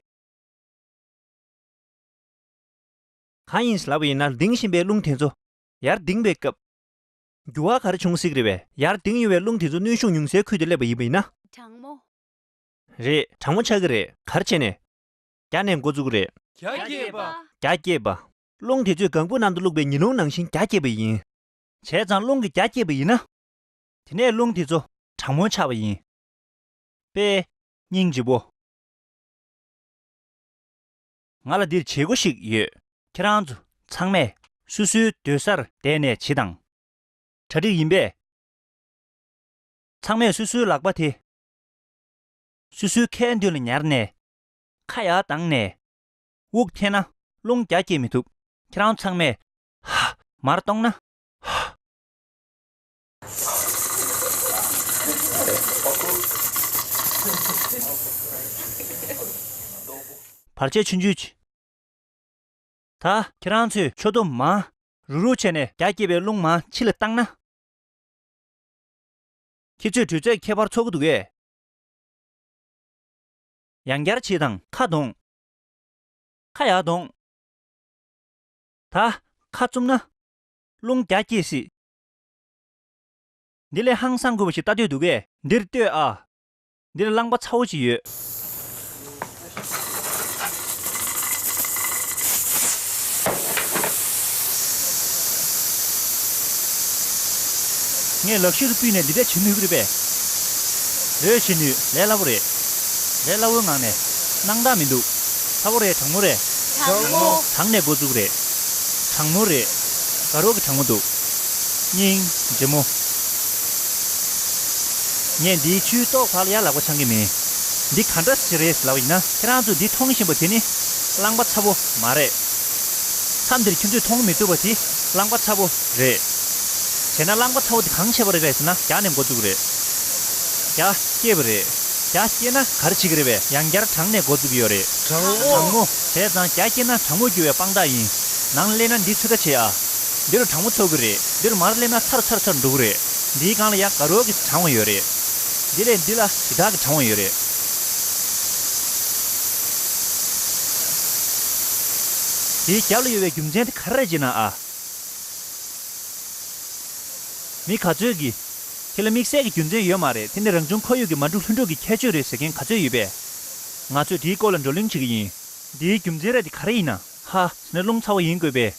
གང་ཡིན་ཟླ་བ་ཡིན་ན་ལྡིང་བཞིན་པའི་རླུང་དེ་ཚོ་ཡར་ལྡིང་བའི་སྐབས། རྒྱུ་བ་གར་བྱུང་གཟིགས་རེ་བས། ཡར་ལྡིང་ཡོང་བའི་རླུང་དེ་ཚོ་གནོན་ཤུགས་ཉུང་སའི་ཁུལ་དུ་སླེབས་པ་ཡིན་ན། གྲང་མོ། རེད། གྲང་མོ་ཆགས་ཀྱི་རེད། གར་བྱས་ནས། རྒྱ་ནས་འགོ་བཙུགས་རེད། རྒྱ་སྐྱེད་པ། རྒྱ་སྐྱེད་པ། རླུང་དེ་ཚོས་གང་བུ་ནང་དུ་བླུགས་པའི་ཉི་རླུང་ནང་བཞིན་རྒྱ་སྐྱེད་པ་ཡིན། བྱས་ཙང་རླུང་གི་རྒྱ་སྐྱེད་པ་ཡིན་ན། དེ་ནས་རླུང་དེ་ཚོ་གྲང་མོ་ཆགས་པ་ཡིན། པས། སྙིང་རྗེ་བོ། ང་ལ་འདིར་བྱེད་སྒོ་ཞིག་ཡོད། ཁྱེད་རང་ཚོ་ཚང་མས་སུ་སུའི་སྡོད་སར་བསྡད་ནས་བྱི་དང། གྲ་སྒྲིག་ཡིན་པས། ཚང་མས་སུ་སུའི་ལག་པ་དེ། སུ་སུའི་ཁའི་མདུན་ལ་ཉར་ནས། ཁ་ཡར་གདངས་ནས། དབུགས་འཐེན་ན་རླུང་རྒྱ་བསྐྱེད་མི་ཐུབ། ཁྱེད་རང་ཚང་མས། ཧཧཧེ། བར་ཆད་ཆུན་ཆུད། ད་ཁྱེད་རང་ཚོས་མཆོད་བསྟོད་མ། རུག་རུག་བྱས་ནས་རྒྱ་བསྐྱེད་པའི་རླུང་མ་ཕྱི་ལ་བཏང་ན། ཁྱེད་ཚོས་དྲོད་ཚད་ཁྱད་པར་ཚོགས་ཀྱི་འདུག་གས། ཡང་བསྐྱར་བྱེད་དང་ཁ་གདོང། ཁ་ཡག་གདོང། ད་ཁ་བཙུམ་ན། རླུང་རྒྱ་བསྐྱེད་སྲིད། འདི་ལས་ཧང་སངས་དགོས་པ་ཞིག་ལྟ་འདོད་འདུག་གས། འདིར་ལྟོས་ཨ། འདིར་བླངས་པ་ཚ་བོ་ཅིག་ཡོད། ངས་ལག་ཤེས་སུ་སྤུས་ནས་འདི་འདྲས་བྱེད་ནུས་ཀྱི་རེད་པས། རེད་བྱེད་ནུས་ལས་སླ་བོ་རེད། ལས་སླ་བོའི་ངང་ནས། སྣང་དག་མི་འདུག། ཚ་བོ་རེད་གྲང་མོ་རེད། གྲང་མོ། གྲང་ནས་འགོ་བཙུགས་རེད། གྲང་མོ་རེད། དགའ་རོགས་ཀྱི་གྲང་མོ་འདུག། སྙིང། རྗེ་མོ། ངས་འདིའི་ཆུའི་རྟོག་བར་ཡར་ལག་པ་འཆང་གི་མིན། འདི་ག་འདྲ་ཞིག་རེད་ཟེར་བ་ཡིན་ན་ཁྱེད་རང་ཚོས་འདི་མཐོང་བཞིན་པ་དེ་ནི་རླངས་པ་ཚ་བོ་མ་རེད། མཚམས་འདིར་ཁྱོད་ཚོས་མཐོང་མི་ཐུབ་པ་དེ་རླངས་པ་ཚ་བོ་རེད། བྱས་ན་རླངས་པ་ཚ་བོ་དེ་གང་བྱས་པ་རེད་པས་ཟེར་ན་རྒྱག་ནས་འགོ་བཙུགས་རེད། རྒྱ་བསྐྱེད་པ་རེད། རྒྱ་བསྐྱེད་ན་ག་རེ་བྱེད་ཀྱི་རེད་པས་ཡང་བསྐྱར་དྲངས་ནས་འགོ་བཙུགས་ཀྱི་ཡོད་རེད། དྲང་མོ། དྲང་མོ། བྱས་ཙང་རྒྱ་བསྐྱེད་ན་དྲང་མོ་རྒྱུ་བའི་དཔང་རྟགས་ཡིན། ནང་སླེབས་ན་འདི་ཚོད་ལྟ་བྱེད་ཨ། འདི་རུ་གྲང་མོ་ཚོར་གི་རེད། འདི་རུ་མར་སླེབས་ན་ཚར་ཚར་ཚར་འགྲོ་གི་རེད། འདིའི་སྒང་ལ་ཡང་དགའ་རོགས་ཀྱི་གྲང་བ་ཡོད་རེད། འདི་ལས་འདི་ལ་ཡི་དྭགས་ཀྱི་གྲང་བ་ཡོད་རེད། དེའི་རྒྱབ་ལ་ཡོད་པའི་རྒྱུ་མཚན་དེ་ག་རེ་རེད་ཅེ་ན་ཨ། མི་ག་ཚོད་ཀྱིས། དེ་ལ་དམིགས་བསལ་གྱི་རྒྱུ་མཚན་ཡོད་མ་རེད་དེ་ནི་རང་བྱུང་ཁོར་ཡུག་གི་མ་འཁྲུགས་ལྷུན་འགྲུབ་ཀྱི་ཁྱད་ཆོས་རེད་ཟེར་མཁན་ག་ཚོད་ཡོད་པས། ང་ཚོས་དེའི་སྐོར་ལ་བགྲོ་གླེང་བྱེད་ཀྱི་ཡིན། འདིའི་རྒྱུ་མཚན་རེད་དེ་ག་རེ་ཡིན་ན། ཧ། ནི་རླུང་ཚ་བོ་ཡིན་དགོས་པས།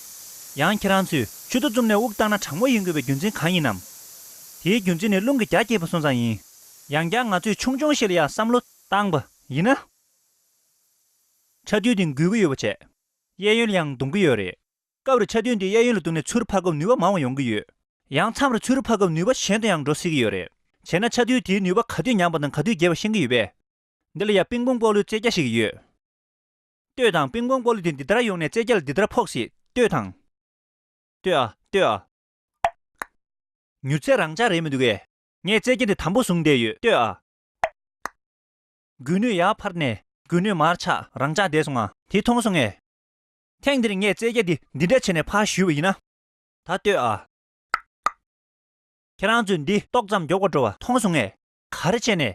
ཡང་ཁྱེད་རང་ཚོས་ཆུ་རྡོ་བཙུམ་ནས་དབུགས་བཏང་ན་གྲང་མོ་ཡིན་དགོས་པའི་རྒྱུ་མཚན་གང་ཡིན་ནམ། དེའི་རྒྱུ་མཚན་ནི་རླུང་གི་རྒྱ་སྐྱེད་པོ་སོང་ཙང་ཡིན། ཡང་བསྐྱར་ང་ཚོས་ཆུང་ཆུང་ཞིག་ལ་ཡང་བསམ་བློ་བཏང་བ་ཡིན་ན། ཆ་རྡུལ་འདི་འགུལ་གྱི་ཡོད་པ་བྱས། གཡས་གཡོན་ལ་ཡང་རྡུང་གི་ཡོད་རེད། སྐབས་རེ་ཆ་རྡུལ་འདི་གཡས་གཡོན་ལ་རྡུང་ནས་ཚུར་འཕར་སྐབས་ནུས་པ་མང་བ་ཡོང་གི་ཡོད། ཡང་མཚམས་རེ་ཚུར་འཕར་སྐབས་ནུས་པ་གཞན་དུ་ཡང་འགྲོ་སྲིད་ཀྱི་ཡོད་རེད། བྱས་ན་ཆ་རྡུལ་དེའི་ནུས་པ་ག་དུས་ཉམས་པ་དང་ག་དུས་རྒྱས་པ་ཤེས་ཀྱི་ཡོད་པས། འདི་ལ་ཡང་པིང་པོང་ལྐོག་གླུའི་རྩེ་རྒྱ་ཞིག་ཡོད། ལྟོས་དང་པིང་པོང་སྤོ་ལུ་དེ་འདི་ལྟར་ཡོང་ནས་རྩེ་རྒྱ་ལ་འདི་ལྟར་ཕོག་ཞིག་ལྟོས་དང། ལྟོས་ཨ་ལྟོས་ཨ། མྱུར་ཚད་རང་འཇགས་རེད་མི་འདུག་གས། ངས་རྩེ་རྒྱ་འདི་དམ་པོ་བཟུང་བསྡད་ཡོད་ལྟོས་ཨ། སྒུལ་ནུས་ཡར་འཕར་ནས་སྒུལ་ནུས་མར་ཆག་རང་འཇགས་བསྡད་སོང་ང། དེ་མཐོང་སོང་ངས། ཐེངས་འདིར་ངས་རྩེ་རྒྱ་འདི་འདི་འདྲ་བྱས་ནས་ཕར་བཞུད་པ་ཡིན་ན། ད་ལྟོས་ཨ། ཁྱེད་རང་ཚོས་འདི་ཏོག་ཙམ་མགྱོགས་པར་འགྲོ་བ་མཐོང་སོང་ངས། ག་རེ་བྱས་ནས།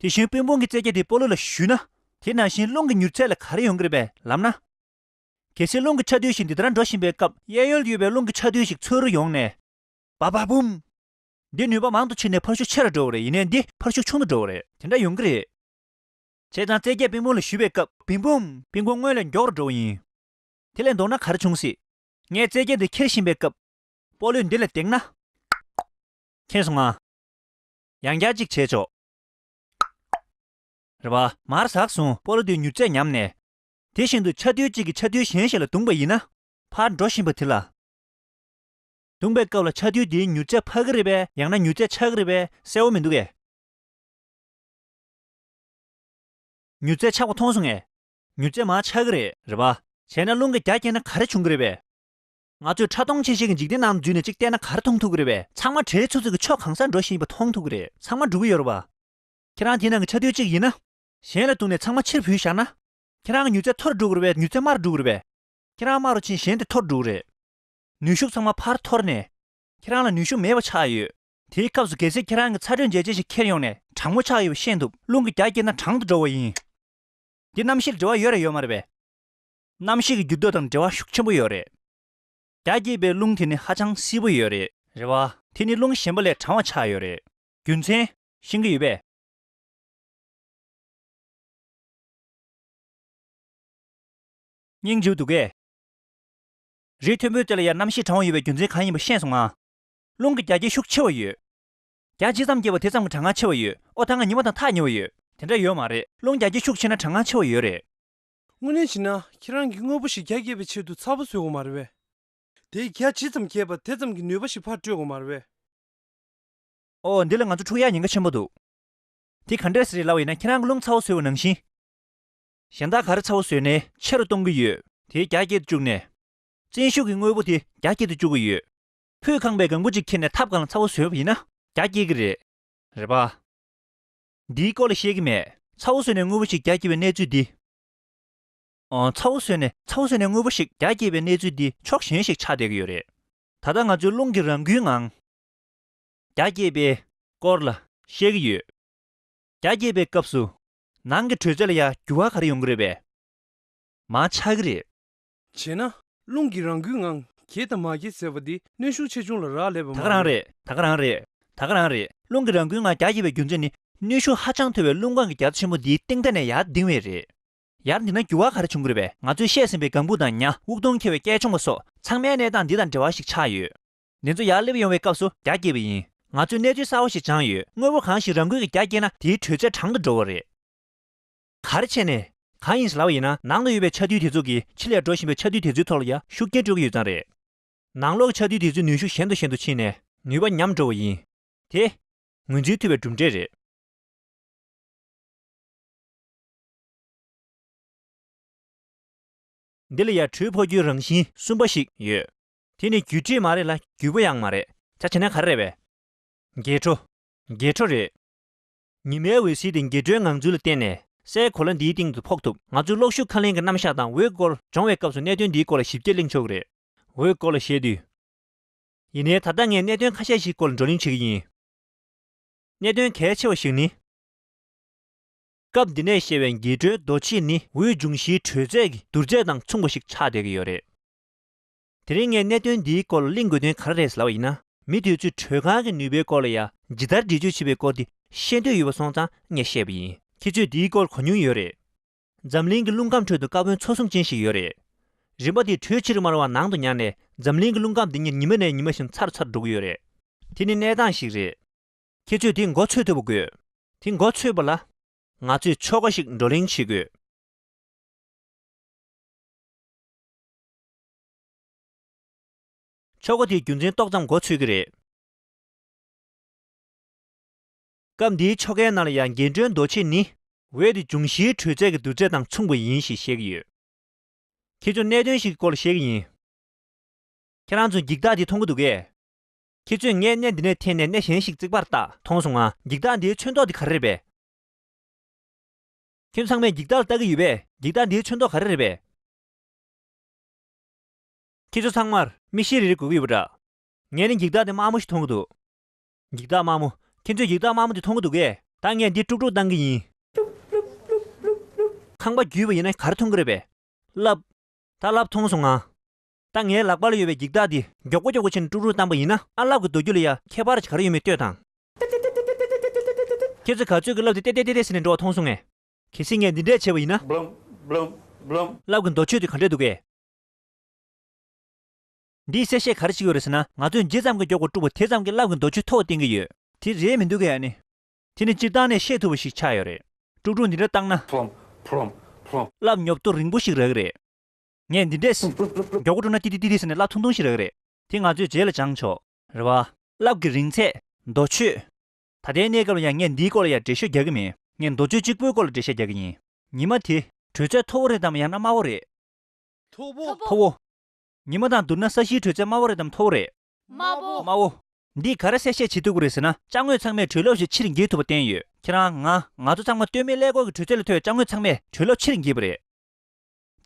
དེ་བཞིན་དཔོན་དཔུང་གི་རྩེ་རྒྱ་དེ་སྤོ་ལོ་ལ་ཞུས་ན། དེ་ནང་བཞིན་རླུང་གི་མྱུར་ཚད་ལ་ག་རེ་ཡོང་གི་རེད་པས་ལབ་ན། གལ་སྲིད་རླུང་གི་ཆ་རྡུལ་ཞིག་འདི་ལྟར་འགྲོ་བཞིན་པའི་སྐབས་གཡས་གཡོན་དུ་ཡོད་པའི་རླུང་གི་ཆ་རྡུལ་ཞིག་ཚུར་རུ་ཡོང་ནས། བ་བ་བུམ། འདི་ནུས་པ་མང་དུ་ཕྱིན་ནས་འཕར་ཤུགས་ཆེ་རུ་འགྲོ་བ་རེད་ཡིན་ནས་འདི་འཕར་ཤུགས་ཆུང་དུ་འགྲོ་བ་རེད་དེ་འདྲ་ཡོང་གི་རེད། བྱས་ཙང་རྩེ་རྒྱས་དཔོན་དཔུང་ལ་ཞུས་པའི་སྐབས་བིམ་བུམ། དཔོན་དཔུང་སྔོན་ལས་མགྱོགས་རུ་འགྲོ་བ་ཡིན། དེ་ལས་མདོག་ན་ག་རེ་བྱུང་སྲིད། ངས་རྩེ་རྒྱ་འདི་འཁྱེར་བཞིན་པའི་སྐབས། སྤོ་ལོས་འདི་ལ་བཏེགས་ན། འཁྱེར་སོང་ང། ཡང་བསྐྱར་གཅིག་བྱས་ཆོག། རེ་བ། མར་ཟགས་བཟུང་སྤོ་ལོ་དེའི་མྱུར་ཚད་ཉམས་ནས། དེ་བཞིན་དུ་ཆ་རྡུལ་གཅིག་གིས་ཆ་རྡུལ་གཞན་ཞིག་ལ་བརྡུངས་པ་ཡིན་ན། ཕར་འགྲོ་བཞིན་པ་དེ་ལ། བརྡུངས་པའི་སྐབས་ལ་ཆ་རྡུལ་དེའི་མྱུར་ཚད་འཕར་གི་རེད་པས་ཡང་ན་མྱུར་ཚད་ཆག་གི་རེད་པས་གསལ་བོ་མི་འདུག་གས། མྱུར་ཚད་ཆག་པ་མཐོང་སོང་ངས། མྱུར་ཚད་མ་ཆག་གི་རེད། རེ་བ། བྱས་ན་རླུང་གི་རྒྱ་བསྐྱེད་ན་ག་རེ་འབྱུང་གི་རེད་པས། ང་ཚོས་ཕྲ་མཐོང་ཆེ་ཤེལ་གྱི་འཇིག་རྟེན་ནང་འཛུལ་ནས་ཅིག་བལྟས་ན་གར་མཐོང་ཐུག་གི་རེད་བས། ཚང་མ་གྲལ་ཚུགས་ཚུགས་ཀྱིས་ཕྱོགས་གང་སར་འགྲོ་བཞིན་ཡོད་པ་མཐོང་ཐུག་གི་རེད་ཚང་མ་འགྲོ་གི་ཡོད་རེད་བ། ཁྱེད་རང་དེའི་ནང་གི་ཆ་རྡུལ་གཅིག་ཡིན་ན། གཞན་ལ་བཏུང་ནས་ཚང་མ་ཕྱིར་བུད་བཞག་ན། ཁྱེད་རང་གི་མྱུར་ཚད་མཐོ་རུ་འགྲོ་གི་རེད་བས་མྱུར་ཚད་དམའ་རུ་འགྲོ་གི་རེད་བས། ཁྱེད་རང་དམའ་རུ་ཕྱིན་གཞན་དེ་མཐོ་རུ་འགྲོ་གི་རེད། ནུས་ཤུགས་ཚང་མ་ཕར་འཐོར་ནས། ཁྱེད་རང་ལ་ནུས་ཤུགས་མེད་པ་ཆགས་ཡོད། དེའི་སྐབས་སུ་གལ་སྲིད་ཁྱེད་རང་གི་ཚ་དྲོད་འཇལ་བྱེད་ཞིག་འཁྱེར་ཡོང་ནས་གྲང་མོ་ཆགས་ཡོད་པ་ཤེས་འདུག་རླུང་གི་རྒྱ་བསྐྱེད་ན་གྲང་དུ་འགྲོ་བ་ཡིན། འདི་རྣམ་ཤེས་ལ་འབྲེལ་བ་ཡོད་རེད་ཡོད་མ་རེད་བས། གནམ་གཤིས་ཀྱི་འགྱུར་ལྡོག་དང་འབྲེལ་བ་ཤུགས་ཆེན་པོ་ཡོད་རེད། རྒྱ་སྐྱེད་པའི་རླུང་དེ་ནི་ཧ་ཅང་བསིལ་པོ་ཡོད་རེད། རེད་བ། དེ་ནི་རླུང་གཞན་པ་ལས་གྲང་བ་ཆགས་ཡོད་རེད། རྒྱུ་མཚན། ཤིང་གི་ཡུལ་བས། སྙིང་རྗེའི་སྡུག་སྐད། རི་མཐོན་པོའི་རྩེ་ལ་ཡར་གནམ་གཤིས་གྲང་བ་ཡོད་པའི་རྒྱུ་མཚན་གང་ཡིན་པ་ཤེས་སོང་ང། རླུང་གི་རྒྱ་སྐྱེད་ཤུགས་ཆེ་བ་ཡོད། རྒྱ་ཇི་ཙམ་སྐྱེད་པ་དེ་ཙམ་གྱི་གྲང་ངར་ཆེ་བ་ཡོད་ཨོ་ད་ང་ཉི་མ་དང་ཐག་ཉེ་བ་ཡོད། དེ་འདྲ་ཡོད་མ་རེད་རླུང་རྒྱ་སྐྱེད་ཤུགས་ཆེ་ན་གྲང་ངར་ཆེ་བ་ཡོད་རེད། དངོས་གནས་བྱས་ན་ཁྱེད་རང་གིས་དངོས་པོ་ཞིག་རྒྱ་བསྐྱེད་པའི་ཆེད་དུ་ཚ་བོ་བཟོས་འོང་བ་རེད་བས། དེས་རྒྱ་ཇི་ཙམ་བསྐྱེད་པ་དེ་ཙམ་གྱིས་ནུས་པ་ཞིག་ཕར་སྤྲོད་འོང་བ་རེད་བས། ཨོ་འདི་ལ་ང་ཚོ་འཁྲུག་ཡ་ཉེན་ཁ་ཆེན་པོ་འདུག་དེ་ག་འདྲས་རེད་ལབ་ཡིན་ན་ཁྱེད་རང་གི་རླུང་ཚ་བོ་བཟོས་བ་ནང་བཞིན། གཞན་དག་ག་རེ་ཚ་བོ་བཟོས་ནས་ཆེ་རུ་གཏོང་གི་ཡོད། དེས་རྒྱ་བསྐྱེད་དུ་བཅུག་ནས། བཙན་ཤུགས་ཀྱིས་དངོས་པོ་དེ་རྒྱ་བསྐྱེད་དུ་བཅུག་གི་ཡོད། ཕུད་ཁང་པའི་གང་བུ་གཅིག་ཁྱེར་ནས་ཐབ་གང་ལ་ཚ་བོ་བཟོས་པ་ཡིན་ན་རྒྱ་བསྐྱེད་ཀྱི་རེད། རེད་པ། འདིའི་སྐོར་ལ་ཤེས་ཀྱི་མེད། ཚ་བོ་བཟོས་ནས་དངོས་པོ་ཞིག་རྒྱ་སྐྱེད་པའི་གནས་ཚུལ་འདི། ཚ་བོ་བཟོས་ནས་ཚ་བོ་བཟོས་ནས་དངོས་པོ་ཞིག་རྒྱ་སྐྱེད་པའི་གནས་ཚུལ་འདི་ཕྱོགས་གཞན་ཞིག་ཆགས་བསྡད་ཀྱི་ཡོད་རེད། ད་ལྟ་ང་ཚོའི་རླུང་གི་རང་འགུལ་ངང། རྒྱ་སྐྱེད་པའི། སྐོར་ལ་ཤེས་ཀྱི་ཡོད། རྒྱ་སྐྱེད་པའི་སྐབས་སུ། ནང་གི་དྲོད་ཚད་ལ་ཡང་འགྱུར་བ་ག་རེ་ཡོང་གི་རེད་པས། མང་ཆགས་ཀྱི་རེད། བྱས་ན། རླུང་གིས་རང་འགུལ་ངང་གྱེས་དང་མ་གྱེས་ཟེར་བ་འདི་གནོན་ཤུགས་ཆེ་ཆུང་ལ་རག་ལས་པ་མ་དག་རང་རེད། རེད་དག་རང་རེད། དག་རང་རེད། རླུང་གིས་རང་འགུལ་ངང་རྒྱ་གྱེས་པའི་རྒྱུ་མཚན་ནི། གནོན་ཤུགས་ཧ་ཅང་མཐོ་བའི་རླུང་ཁང་གི་རྒྱ་མཚོ་ཆེན་པོ་འདིའི་སྟེང་མཐའ་ནས་ཡར་ལྡིང་བས་རེད། ཡར་འདིང་ན་འགྱུར་བ་ག་རེ་བྱུང་དགོས་པས་ང་ཚོས་བཤད་ཟིན་པའི་གངས་སྤུག་དང་ཉྭ་དབུགས་སྟོང་འཁྱེར་བའི་སྐད་ཆུང་བ་སོགས་ཚང་མའི་གནས་སྟངས་འདི་དང་འབྲེལ་བ་ཞིག་ཆགས་ཡོད། འདི་ཚོ་ཡར་སླེབས་ཡོང་བའི་སྐབས་སུ་རྒྱ་བསྐྱེད་པ་ཡིན། ང་ཚོས་གནས་ཚུལ་གསར་བ་ཞིག་སྦྱངས་ཡོད་དངོས་པོ་གང་ཞིག་རང་འགུལ་གྱིས་རྒྱ་བསྐྱེད་ན་དེའི་དྲོད་ཚད་གྲང་དུ་འགྲོ་བ་རེད། གར་བྱས་ནས་གང་ཡིན་ལབ་པ་ཡིན་ན་ནང་དུ་ཡོད་པའི་ཆ་རྡུལ་དེ་ཚོ་གིས་ཕྱི་ལས་འགྲོ་བཞིན་པའི་ཆ་རྡུལ་དེ་ཚོའི་ཐོག་ལ་ཡང་ཤུགས་རྐྱེན་སྤྲོད་ཀྱི་ཡོད་ཙང་རེད། ནང་ལོགས་ཀྱི་ཆ་རྡུལ་དེ་ཚོའི་ནུས་ཤུགས་ཞན་དུ་ཞན་དུ་ཕྱིན་ནས་ནུས་པ་ཉམས་འགྲོ་བ་ཡིན། དེ། ངོས་འཛིན་ཐུབ་པའི་གྲུབ་འབྲས་རེད། འདི་ལ་ཡར་འཕྲོས་འཕོ་འགྱུར་རང་བཞིན་གསུམ་པ་ཞིག་ཡོད། དེ་ནི་རྒྱུ་འབྲས་མ་རེད་ལ་རྒྱུ་བ་ཡང་མ་རེད། བྱ་བྱེད་ནས་ག་རེ་རེད་བས། འགྱེད་འཕྲོ། འགྱེད་འཕྲོ་རེད། ཉི་མའི་འོད་ཟེར་དེ་འགྱེད་འཕྲོའི་ངང་ཚུལ་ལ་བརྟེན་ནས་སའི་གོ་ལ་འདིའི་སྟེང་དུ་ཕོག་ཐུབ། ང་ཚོས་གློག་ཤུགས་ཁ་ལེན་གྱི་རྣམ་གཞག་དང་འོད་སྐོར་སྦྱོང་བའི་སྐབས་སུ་གནད་དོན་འདིའི་སྐོར་ལ་ཞིབ་རྒྱས་གླེང་ཆོག་གི་རེད། འོད་སྐོར་ལ་བཤད་དུས། ཡིན་ནའི་ད་ལྟ་ངས་གནད་དོན་ཁ་ཤས་ཤིག་སྐོར་ལ་བགྲོ་གླེང་བྱེད་ཀྱི་ཡིན། གནད་དོན་གལ་ཆེ་བ་ཞིག་ནི། སྐབས་འདི་ནས་བཤད་པའི་འགྱེད་འཕྲོའི་རྡོ་ཕྱེ་ནི་འོད་འབྱུང་བཞིའི་དྲོད་ཚད་ཀྱི་བསྡུར་ཚད་དང་མཚུངས་པ་ཞིག་ཆགས་བསྡད་ཀྱི་ཡོད་རེད། དེ་རིང་ངས་གནད་དོན་འདིའི་སྐོར་ལ་གླེང་དགོས་དོན་ག་རེ་རེད་ཟེར་བ་ཡིན་ན། མི་དེ་ཚོས་དྲོད་ཁང་གི་ནུས་པའི་སྐོར་ལ་ཡང་ཇི་ལྟར་འདྲི་གཅོད་བྱེད་པའི་སྐོར་དེ་ཤེས་འདོད་ཡོད་པ་སོང་ཙང་ངས་བཤད་པ་ཡིན། ཁྱེད་ཚོས་འདིའི་སྐོར་གོ་མྱོང་ཡོད་རེད། འཛམ་གླིང་གི་རླུང་ཁམས་ཁྲོད་དུ་དཀར་བོན་མཚོ་གསུམ་ཅན་ཞིག་ཡོད་རེད། རིམ་པ་དེའི་དྲོད་ཕྱིར་དམར་བ་ནང་དུ་ཉར་ནས་འཛམ་གླིང་གི་རླུང་ཁམས་འདི་ཉིད་ཉི་མ་ནས་ཉི་མ་བཞིན་ཚར་ཚར་འགྲོ་གི་ཡོད་རེད། དེ་ནི་གནས་སྟངས་ཤིག་རེད། ཁྱེད་ཚོས་དེ་མགོ་འཚོས་ཐུབ་པ་དགོས། དེ་མགོ་འཚོས་པ་ལ། ང་ཚོས་ཕྱོགས་འགའ་ཞིག་བགྲོ་གླེང་བྱེད་དགོས། ཆོ་ག་དེའི་རྒྱུ་མཚན་ཏོག་ཙམ་གོ་ཚོད་ཀྱི་རེད། སྐབས་འདིའི་ཆོ་གའི་ནང་ལ་ཡང་རྒྱན་སྤྲོས་མདོ་ཕྱེད་ནི། འོད་དེ་འབྱུང་བཞིའི་དྲོད་ཚད་ཀྱི་བསྡུར་ཚད་དང་མཚུངས་པ་ཡིན་ཞེས་བཤད་ཀྱི་ཡོད། ཁྱེད་ཚོས་གནད་དོན་ཞིག་གི་སྐོར་ལ་བཤད་ཀྱི་ཡིན། ཁྱེད་རང་ཚོས་འགྱིག་རྟགས་དེ་མཐོང་གི་འདུག་གས། ཁྱེད་ཚོས་ངས་གནས་འདི་ནས་འཐེན་ནས་གནས་གཞན་ཞིག་བརྩིགས་པར་བརྟགས་མཐོང་སོང་ང། འགྱིག་རྟགས་འདིའི་ཆོས་མདོག་དེ་ག་རེ་རེད་པས། ཁྱེད་ཚང་མས་འགྱིག་རྟགས་ལ་བལྟ་གི་ཡོད་པས་འགྱིག་རྟགས་འདིའི་ཆོས་མདོག་ག་རེ་རེད་པས། ཁྱེད་ཚོ་ཚང་མར་མིག་ཤེལ་རིལ་རིལ་དགོས་ཀྱི་ཡོད་པ་འདྲ། ངས་ནི་འགྱིག་དག་དེ་དམའ་མོ་ཞིག་མཐོང་གི་འདུག། འགྱིག་དག་དམའ་མོ། ཁྱེད་ཚོས་འགྱིག་དག་དམའ་མོ་དེ་མཐོང་གི་འདུག་གས། ད་ངས་འདི་དཀྲུག་དཀྲུག་བཏང་གི་ཡིན། ཁང་པ་བརྒྱུད་པ་ཡིན་ན་ག་རེ་མཐོང་གི་རེད་པས། རླབས། ད་རླབས་མཐོང་སོང་ང། ད་ངའི་ལག་པ་ལ་ཡོད་པའི་འགྱིག་དག་འདི་མགྱོགས་པོ་མགྱོགས་པོ་ཕྱིར་ནས་དཀྲུག་དཀྲུག་བཏང་པ་ཡིན་ན་ཨ་རླབས་ཀྱི་རྡོ་རྒྱུ་ལ་ཡ་ཁྱད་པར་གྱི་ག་རེ་ཡོད་མེད་ལྟོས་དང། ཁྱེད་ཚོས་ག་ཚོད་ཀྱི་རླབས་དེ་ཏེ་ཏེ་ཏེ་ཏེ་ཏེ་ཟེར་ནས་འགྲོ་བ་མཐོང་སོང་ངས། གལ་སྲིད་ངས་འདི་འདྲས་བྱས་པ་ཡིན་ན། རླབས་ཀྱི་མདོ་ཆོད་དེ་ག་འདྲས་འདུག་གས། འདིས་གསལ་བཤད་ག་རེ་ཞིག་ཡོད་རེད་ཟེར་ན་ང་ཚོས་མཇེ་ཙམ་གྱི་མགྱོགས་པོ་དཀྲུགས་པ་དེ་ཙམ་གྱིས་རླབས་ཀྱི་མདོ་ཆོད་མཐོ་བ་བསྟན་གྱི་ཡོད། དེ་རེད་མི་འདུག་གས་ཡ་ནི། དེ་ནི་སྤྱིར་བཏང་ནས་ཤེས་ཐུབ་པ་ཞིག་ཆགས་ཡོད་རེད། དཀྲུགས་དཀྲུགས་འདི་འདྲ་བཏང་ན། རླབས་ཉོབ་ཏོ་རིང་པོ་ཞིག་རག་གི་རེད། ངས་འདི་འདྲས། མགྱོགས་པོ་དཀྲུགས་ན་ཏི་ཏི་ཏི་ཏི་ཟེར་ནས་རླབས་ཐུང་ཐུང་ཞིག་རག་གི་རེད། དེ་ང་ཚོས་རྗེས་ལ་སྦྱངས་ཆོག། རེད་བ། རླབས་ཀྱི་རིང་ཚད། མདོ་ཆོད། ད་ལྟའི་གནས་སྐབས་ལ་ཡང་ངས་འདིའི་སྐོར་ལ་ཡང་འགྲེལ་བཤད་རྒྱག་གི་མེད། ངས་མདོ་བཅུ་གཅིག་པོའི་སྐོར་ལ་འགྲེལ་བཤད་རྒྱག་གི་ཡིན། ཉི་མ་དེ། དྲོད་ཚད་མཐོ་བོ་རེད་དམ་ཡང་ན་དམའ་བོ་རེད། མཐོ་བོ། མཐོ་བོ། ཉི་མ་དང་བསྡུར་ན་ས་གཞིའི་དྲོད་ཚད་དམའ་བོ་རེད་དམ་མཐོ་བོ་རེད། དམའ་བོ། དམའ་བོ། འདིས་ག་རེ་གསལ་བཤད་བྱེད་འདོད་དགོས་རེད་ཟེར་ན་དཔྱ་དངོས་ཚང་མས་དྲོད་རླབས་ཞིག་ཕྱིར་འགྱེད་ཐུབ་པ་བསྟན་ཡོད། ཁྱེད་རང། ང། ང་ཚོ་ཚང་མ་སྟོད་སྨད་ཀླད་ཀོར་གྱི་དྲོད་ཚད་ལ་ཐོས་དཔྱ་དངོས་ཚང་མས་དྲོད་རླབས་ཕྱིར་འགྱེད་པ་རེད།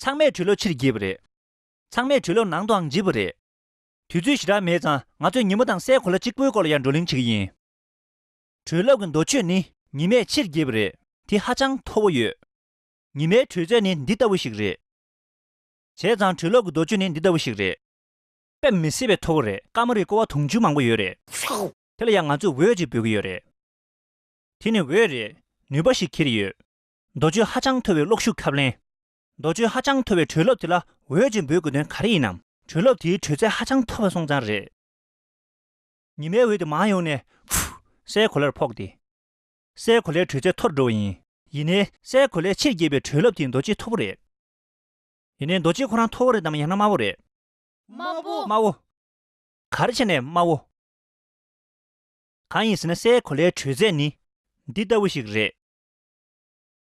ཚང་མས་དྲོད་རླབས་ཕྱིར་འགྱེད་པ་རེད། ཚང་མས་དྲོད་རླབས་ནང་དུའང་འགྱེད་པ་རེད། དུས་ཚོད་ཞེ་དྲག་མེད་ཙང་ང་ཚོས་ཉིན་མོ་དང་སའི་གོ་ལ་གཅིག་པོའི་སྐོར་ལ་ཡང་བགྲོ་གླེང་བྱེད་ཀྱི་ཡིན། དྲོད་རླབས་ཀྱི་འདོ་ཆོས་ནི་ཉི་མས་ཕྱིར་འགྱེད་པ་རེད། དེ་ཧ་ཅང་མཐོ་བོ་ཡོད། ཉི་མའི་དྲོད་ཚད་ནི་འདི་ལྟ་བུ་ཞིག་རེད། བྱས་ཙང་དྲོད་རླབས་ཀྱི་འདོ་ཆོས་ནི་འདི་ལྟ་བུ་ཞིག་རེད། དཔེ་མི་སྲིད་པའི་མཐོ་བོ་རེད། དཀར་མོ་རིའི་ཀོ་བ་དུང་ཕྱུར་མང་པོ་ཡོད་རེད། དེ་ལ་ཡང་ང་ཚོས་འོད་ཅིག་འབོད་ཀྱི་ཡོད་རེད། དེ་ནི་འོད་རེད། ནུས་པ་ཞིག་འཁྱེར་ཡོད། འདོ་ཆོས་ཧ་ཅང་མཐོ་བའི་གློག་ཤུགས་ཁབ་ལེན། མདོ་བཅུའི་ཧ་ཅང་མཐོ་བའི་གྲོས་སློབ་དེ་ལ་འོས་ཅེས་འབོད་དགོས་དོན་ག་རེ་ཡིན་ནམ། གྲོས་སློབ་དེའི་དྲོད་ཚད་ཧ་ཅང་མཐོ་བ་སོང་ཙང་རེད། ཉི་མའི་འོད་དེ་མང་ཡོང་ནས། སའི་གོ་ལར་ཕོག་སྟེ། སའི་གོ་ལའི་དྲོད་ཚད་མཐོར་འགྲོ་བ་ཡིན། ཡིན་ནའི། སའི་གོ་ལའི་ཕྱིར་འགྱེད་པའི་གྲོས་སློབ་དེའི་མདོ་སྤྱི་མཐོ་པོ་རེད། ཡིན་ནའི། མདོ་སྤྱི་ཁོ་རང་མཐོ་བོ་རེད་དམ་ཡང་ན་དམའ་བོ་རེད། དམའ་བོ། དམའ་བོ། ག་རེ་བྱས་ནས་དམའ་བོ། གང་ཡིན་ཟེར་ན་སའི་གོ་ལའི་དྲོད་ཚད་ནི། འདི་ལྟ་བུ་ཞིག་རེད།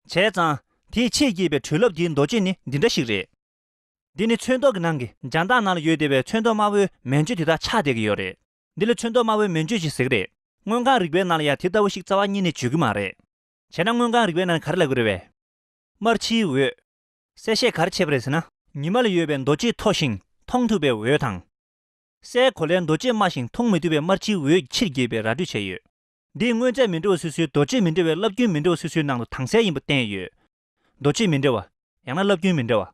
བྱས་ཙང། དེའི་ཆེས་སྐྱིད་པའི་དྲོད་རླབས་ཀྱི་མདོ་ཆེན་ནི་འདི་འདྲ་ཞིག་རེད། འདི་ནི་ཚོན་མདོག་གི་ནང་གི་འཇང་ཐང་ནང་ལ་ཡོད་བདེ་བའི་ཚོན་མདོག་དམར་བོའི་མན་ཆོད་དེ་དག་ཆགས་བསྡད་ཀྱི་ཡོད་རེད། འདི་ལ་ཚོན་མདོག་དམར་བོའི་མན་ཆོད་ཅེས་ཟེར་གྱི་རེད། དངོས་ཁང་རིག་པའི་ནང་ལ་ཡང་དེ་ལྟ་བུ་ཞིག་རྩ་བ་གཉིས་ནས་བརྗོད་ཀྱི་མ་རེད། བྱས་ན་དངོས་ཁང་རིག་པའི་ནང་ག་རེ་ལབ་ཀྱི་རེད་བས། དམར་ཕྱིའི་འོད། གསལ་བཤད་ག་རེ་བྱས་པ་རེད་ཟེར་ན། ཉི་མ་ལ་ཡོད་པའི་མདོ་ཆེས་མཐོ་ཞིང་མཐོང་ཐུབ་པའི་འོད་དང། སའི་གོ་ལའི་མདོ་ཆེས་དམའ་ཞིང་མཐོང་མི་ཐུབ་པའི་དམར་ཕྱིའི་འོད་ཀྱི་ཕྱིར་རྒྱས་པའི་ར་སྤྲོད་བྱས་ཡོད། འདིས་དངོས་རྫས་མི་འདྲ་བ་སོ་སོའི་རྡོ་རྗེ་མི་འདྲ་བའི་རླབས་རྒྱུན་མི་འདྲ་བ་སོ་སོའི་ནང་དུ་དྭངས་གསལ་ཡིན་པ་བསྟན་ཡོད། རྡོ་རྗེ་མི་འདྲ་བ། ཡང་ན་རླབས་རྒྱུན་མི་འདྲ་བ།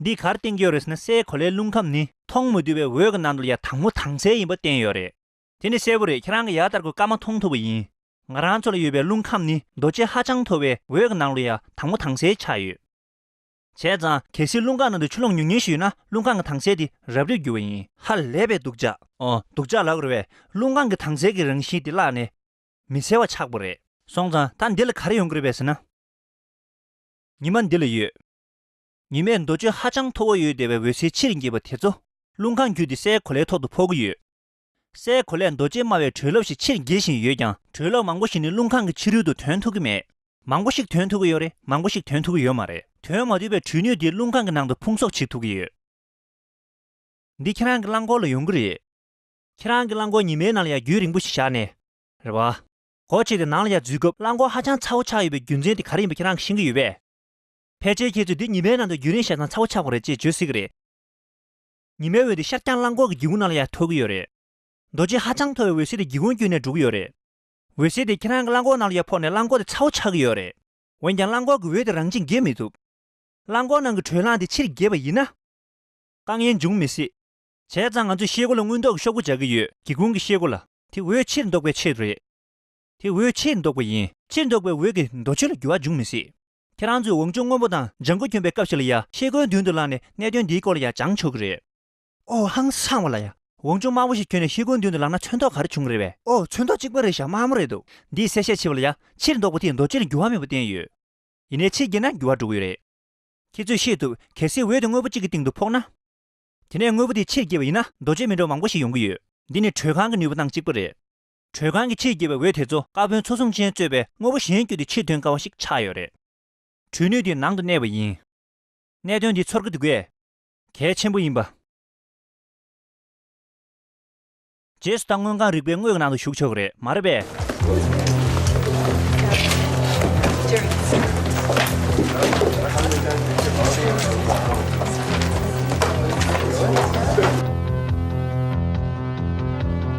འདིས་གར་བསྟན་ཡོད་རེད་ཟེར་ན་སའི་གོ་ལའི་རླུང་ཁམས་ནི་མཐོང་མི་ཐུབ་པའི་འོད་ཀྱི་ནང་དུ་ཡང་དྭངས་མོ་དྭངས་གསལ་ཡིན་པ་བསྟན་ཡོད་རེད། དེ་ནི་གསལ་པོ་རེད་ཁྱེད་རང་གི་ཡར་ལྟར་གོ་སྐབས་མ་མཐོང་ཐུབ་པ་ཡིན། ང་རང་ཚོ་ལ་ཡོད་པའི་རླུང་ཁམས་ནི་རྡོ་རྗེ་ཧ་ཅང་མཐོ་བའི་འོད་ཀྱི་ནང་དུ་ཡང་དྭངས་མོ་དྭངས་གསལ་ཆགས་ཡོད། བྱས་ཙང་གལ་སྲིད་རླུང་ཁ་ནང་དུ་ཆུ་ཀློང་ཉུང་ཉུང་ཞིག་ཡོད་ན་རླུང་ཁང་གི་དྭངས་གསལ་དེ་རབ་རིབ་འགྱུར་བ་ཡིན། ཧ་ལས་པའི་སྡུག་ཅག། སྡུག་ཅག་ལགས་རེད་བས་རླུང་ཁང་གི་དྭངས་གསལ་གྱི་རང་བཞིན་དེ་བརླགས་ནས། མི་གསལ་བ་ཆགས་པོ་རེད། སོང་ཙང་ད་འདི་ལ་ག་རེ་ཡོང་གི་རེད་བས་ཟེར་ན། ཉི་མ་འདི་ལ་ཡོད། ཉི་མས་འདོ་ཆུ་ཧ་ཅང་མཐོ་བོ་ཡོད་བདེ་བའི་འོད་ཟེར་ཕྱིར་འགྱེད་པ་དེ་ཚོ་རླུང་ཁང་བརྒྱུད་དེ་སའི་གོ་ལའི་ཐོག་ཏུ་འཕོ་གི་ཡོད། སའི་གོ་ལས་རྡོ་རྗེ་སྨྲ་བའི་དྲོད་རླབས་ཞིག་ཕྱིར་འགྱེད་བཞིན་ཡོད་ཀྱང་དྲོད་རླབས་མང་པོ་ཞིག་ནི་རླུང་ཁང་གི་ཕྱི་རོལ་དུ་དོན་ཐུག་གི་མེད། མང་པོ་ཞིག་དོན་ཐུག་གི་ཡོད་རེད་མང་པོ་ཞིག་དོན་ཐུག་གི་ཡོད་མ་རེད་དོན་མ་བསྡུས་པའི་དྲོད་ནུས་དེ་རླུང་ཁང་གི་ནང་དུ་ཕུང་གསོག་བྱེད་ཐུག་གི་ཡོད། འདི་ཁྱེད་རང་གི་རླངས་འཁོར་ལ་ཡོང་གི་རེད། ཁྱེད་རང་གི་རླངས་འཁོར་ཉི་མའི་ནང་ལ་ཡང་རྒྱུན་རིང་པོ་ཞིག་བཞག་ནས། རེད་བ། སྒོ་ཕྱེས་ཏེ་ནང་ལ་ཡར་འཛུལ་སྐབས་རླངས་འཁོར་ཧ་ཅང་ཚ་བོ་ཆགས་ཡོད་པའི་རྒྱུ་མཚན་དེ་ག་རེ་ཡིན་པ་ཁྱེད་རང་གིས་ཤེས་ཀྱི་ཡོད་པས། ཕལ་ཆེར་ཁྱེད་ཚོས་འདི་ཉི་མའི་ནང་དུ་རྒྱུན་རིང་བཞག་ཙང་ཚ་བོ་ཆགས་པ་རེད་ཅེས་བརྗོད་སྲིད་གི་རེད། ཉི་མའི་འོད་དེ་ཤར་བརྐྱང་གླང་འཁོར་གྱི་སྒེའུ་ཁུང་ནང་ལ་ཡང་འཐོར་གྱི་ཡོད་རེད། རྡོ་རྗེ་ཧ་ཅང་མཐོ་བའི་འོད་ཟེར་དེ་སྒེའུ་ཁུང་བརྒྱུད་ནས་འགྲོ་གི་ཡོད་རེད། འོད་ཟེར་དེ་ཁྱེད་རང་གི་གླང་འཁོར་ནང་ལ་ཡང་ཕོག་ནས་གླང་འཁོར་དེ་ཚ་བོ་ཆགས་ཀྱི་ཡོད་རེད། འོན་ཀྱང་གླང་འཁོར་གྱི་འོད་དེ་རང་ཅིས་འགྱེལ་མི་ཐུབ། གླང་འཁོར་ནང་གི་དྲོད་རླངས་དེ་ཕྱིར་འགྱེལ་བ་ཡིན་ན། དཀའ་ངལ་འབྱུང་མི་སྲིད། བྱས་ཙང་ང་ཚོས་ཤེལ་སྒོ་ལ་དངུལ་མདོག་གི་ཤོག་བུ་འཇགས་ཀྱི་ཡོད། སྒེའུ་ཁུང་གི་ཤེལ་སྒོ་ལ། དེ་འོད་ཕྱིར་ལྡོག་པའི་ཆེད་དུ་རེད། དེ་འོད་ཕྱིར་ལྡོག་པ་ཡིན། ཕྱིར་ལྡོག་པའི་འོད་ཀྱིས་རྡོ་ཆོས་ལ་འགྱུར་བ་འབྱུང་མི་སྲིད། ཁྱེད་རང་ཚོས་འོང་ཆུང་སྔོན་པོ་དང་ལྗང་ཁུ་གྱོན་པའི་སྐབས་ཤིག་ལ་ཡང་ཤེལ་སྒོའི་མདུན་དུ་ལངས་ནས་གནད་དོན་འདིའི་སྐོར་ལ་ཡང་སྦྱང་ཆོག་གི་རེད། ཨོ་ཧང་སང་བ་ལ་ཡ། འོང་ཆུང་དམའ་བོ་ཞིག་གྱོན་ནས་ཤེལ་སྒོའི་མདུན་དུ་ལངས་ན་ཚོན་མདོག་ག་རེ་བྱུང་གི་རེད་བས། ཨོ་ཚོན་མདོག་གཅིག་པ་རེད་ཤག་དམའ་མོ་རེད་འདུག། འདིས་གསལ་བཤད་བྱས་བ་ལ་ཡ། ཕྱིར་མདོག་པོ་དེས་རྡོ་གཅལ་འགྱུར་བ་མེད་པ་བསྟན་ཡོད། ཡིན་ནའི་ཕྱིས་བརྒྱན་ན་འགྱུར་བ་འགྲོ་གི་ཡོད་རེད། ཁྱེད་ཚོས་ཤེས་ཐུབ། གལ་སྲིད་འོད་དེ་དངོས་པོ་གཅིག་གི་སྟེང་དུ་ཕོག་ན། དེ་ནས་དངོས་པོ་དེ་ཕྱིར་བསྐྱེད་པ་ཡིན་ན་རྡོ་གཅལ་མི་འགྲོ་བ་མང་པོ་ཞིག་ཡོང་གི་ཡོད། འདི་ནི་དྲོད་ཁང་གི་ནུས་པ་སྟངས་གཅིག་པ་རེད། དྲོད་ཁང་གི་ཕྱིར་སྐྱེས་པའི་འོད་དེ་ཚོ་ཀ་བོན་ཚོ་གཟུངས་ཆེན་གཙོས་པའི་དངོས་པོ་གཞན་བརྒྱུད་དེ་ཕྱིར་ཐོན་དཀའ་བ་ཞིག་ཆགས་ཡོད་རེད། དྲོད་ནུས་དེ་ནང་དུ་གནས་པ་ཡིན། གནད་དོན་འདི་ཚོར་གི་འདུག་གས། གལ་ཆེན་པོ་ཡིན་པ། རྗེས་སུ་ད་དངོས་གང་རིག་པའི་དངོས་ཀྱི་ནང་དུ་ཞུགས་ཆོག་གི་རེད་མ་རེད་པས།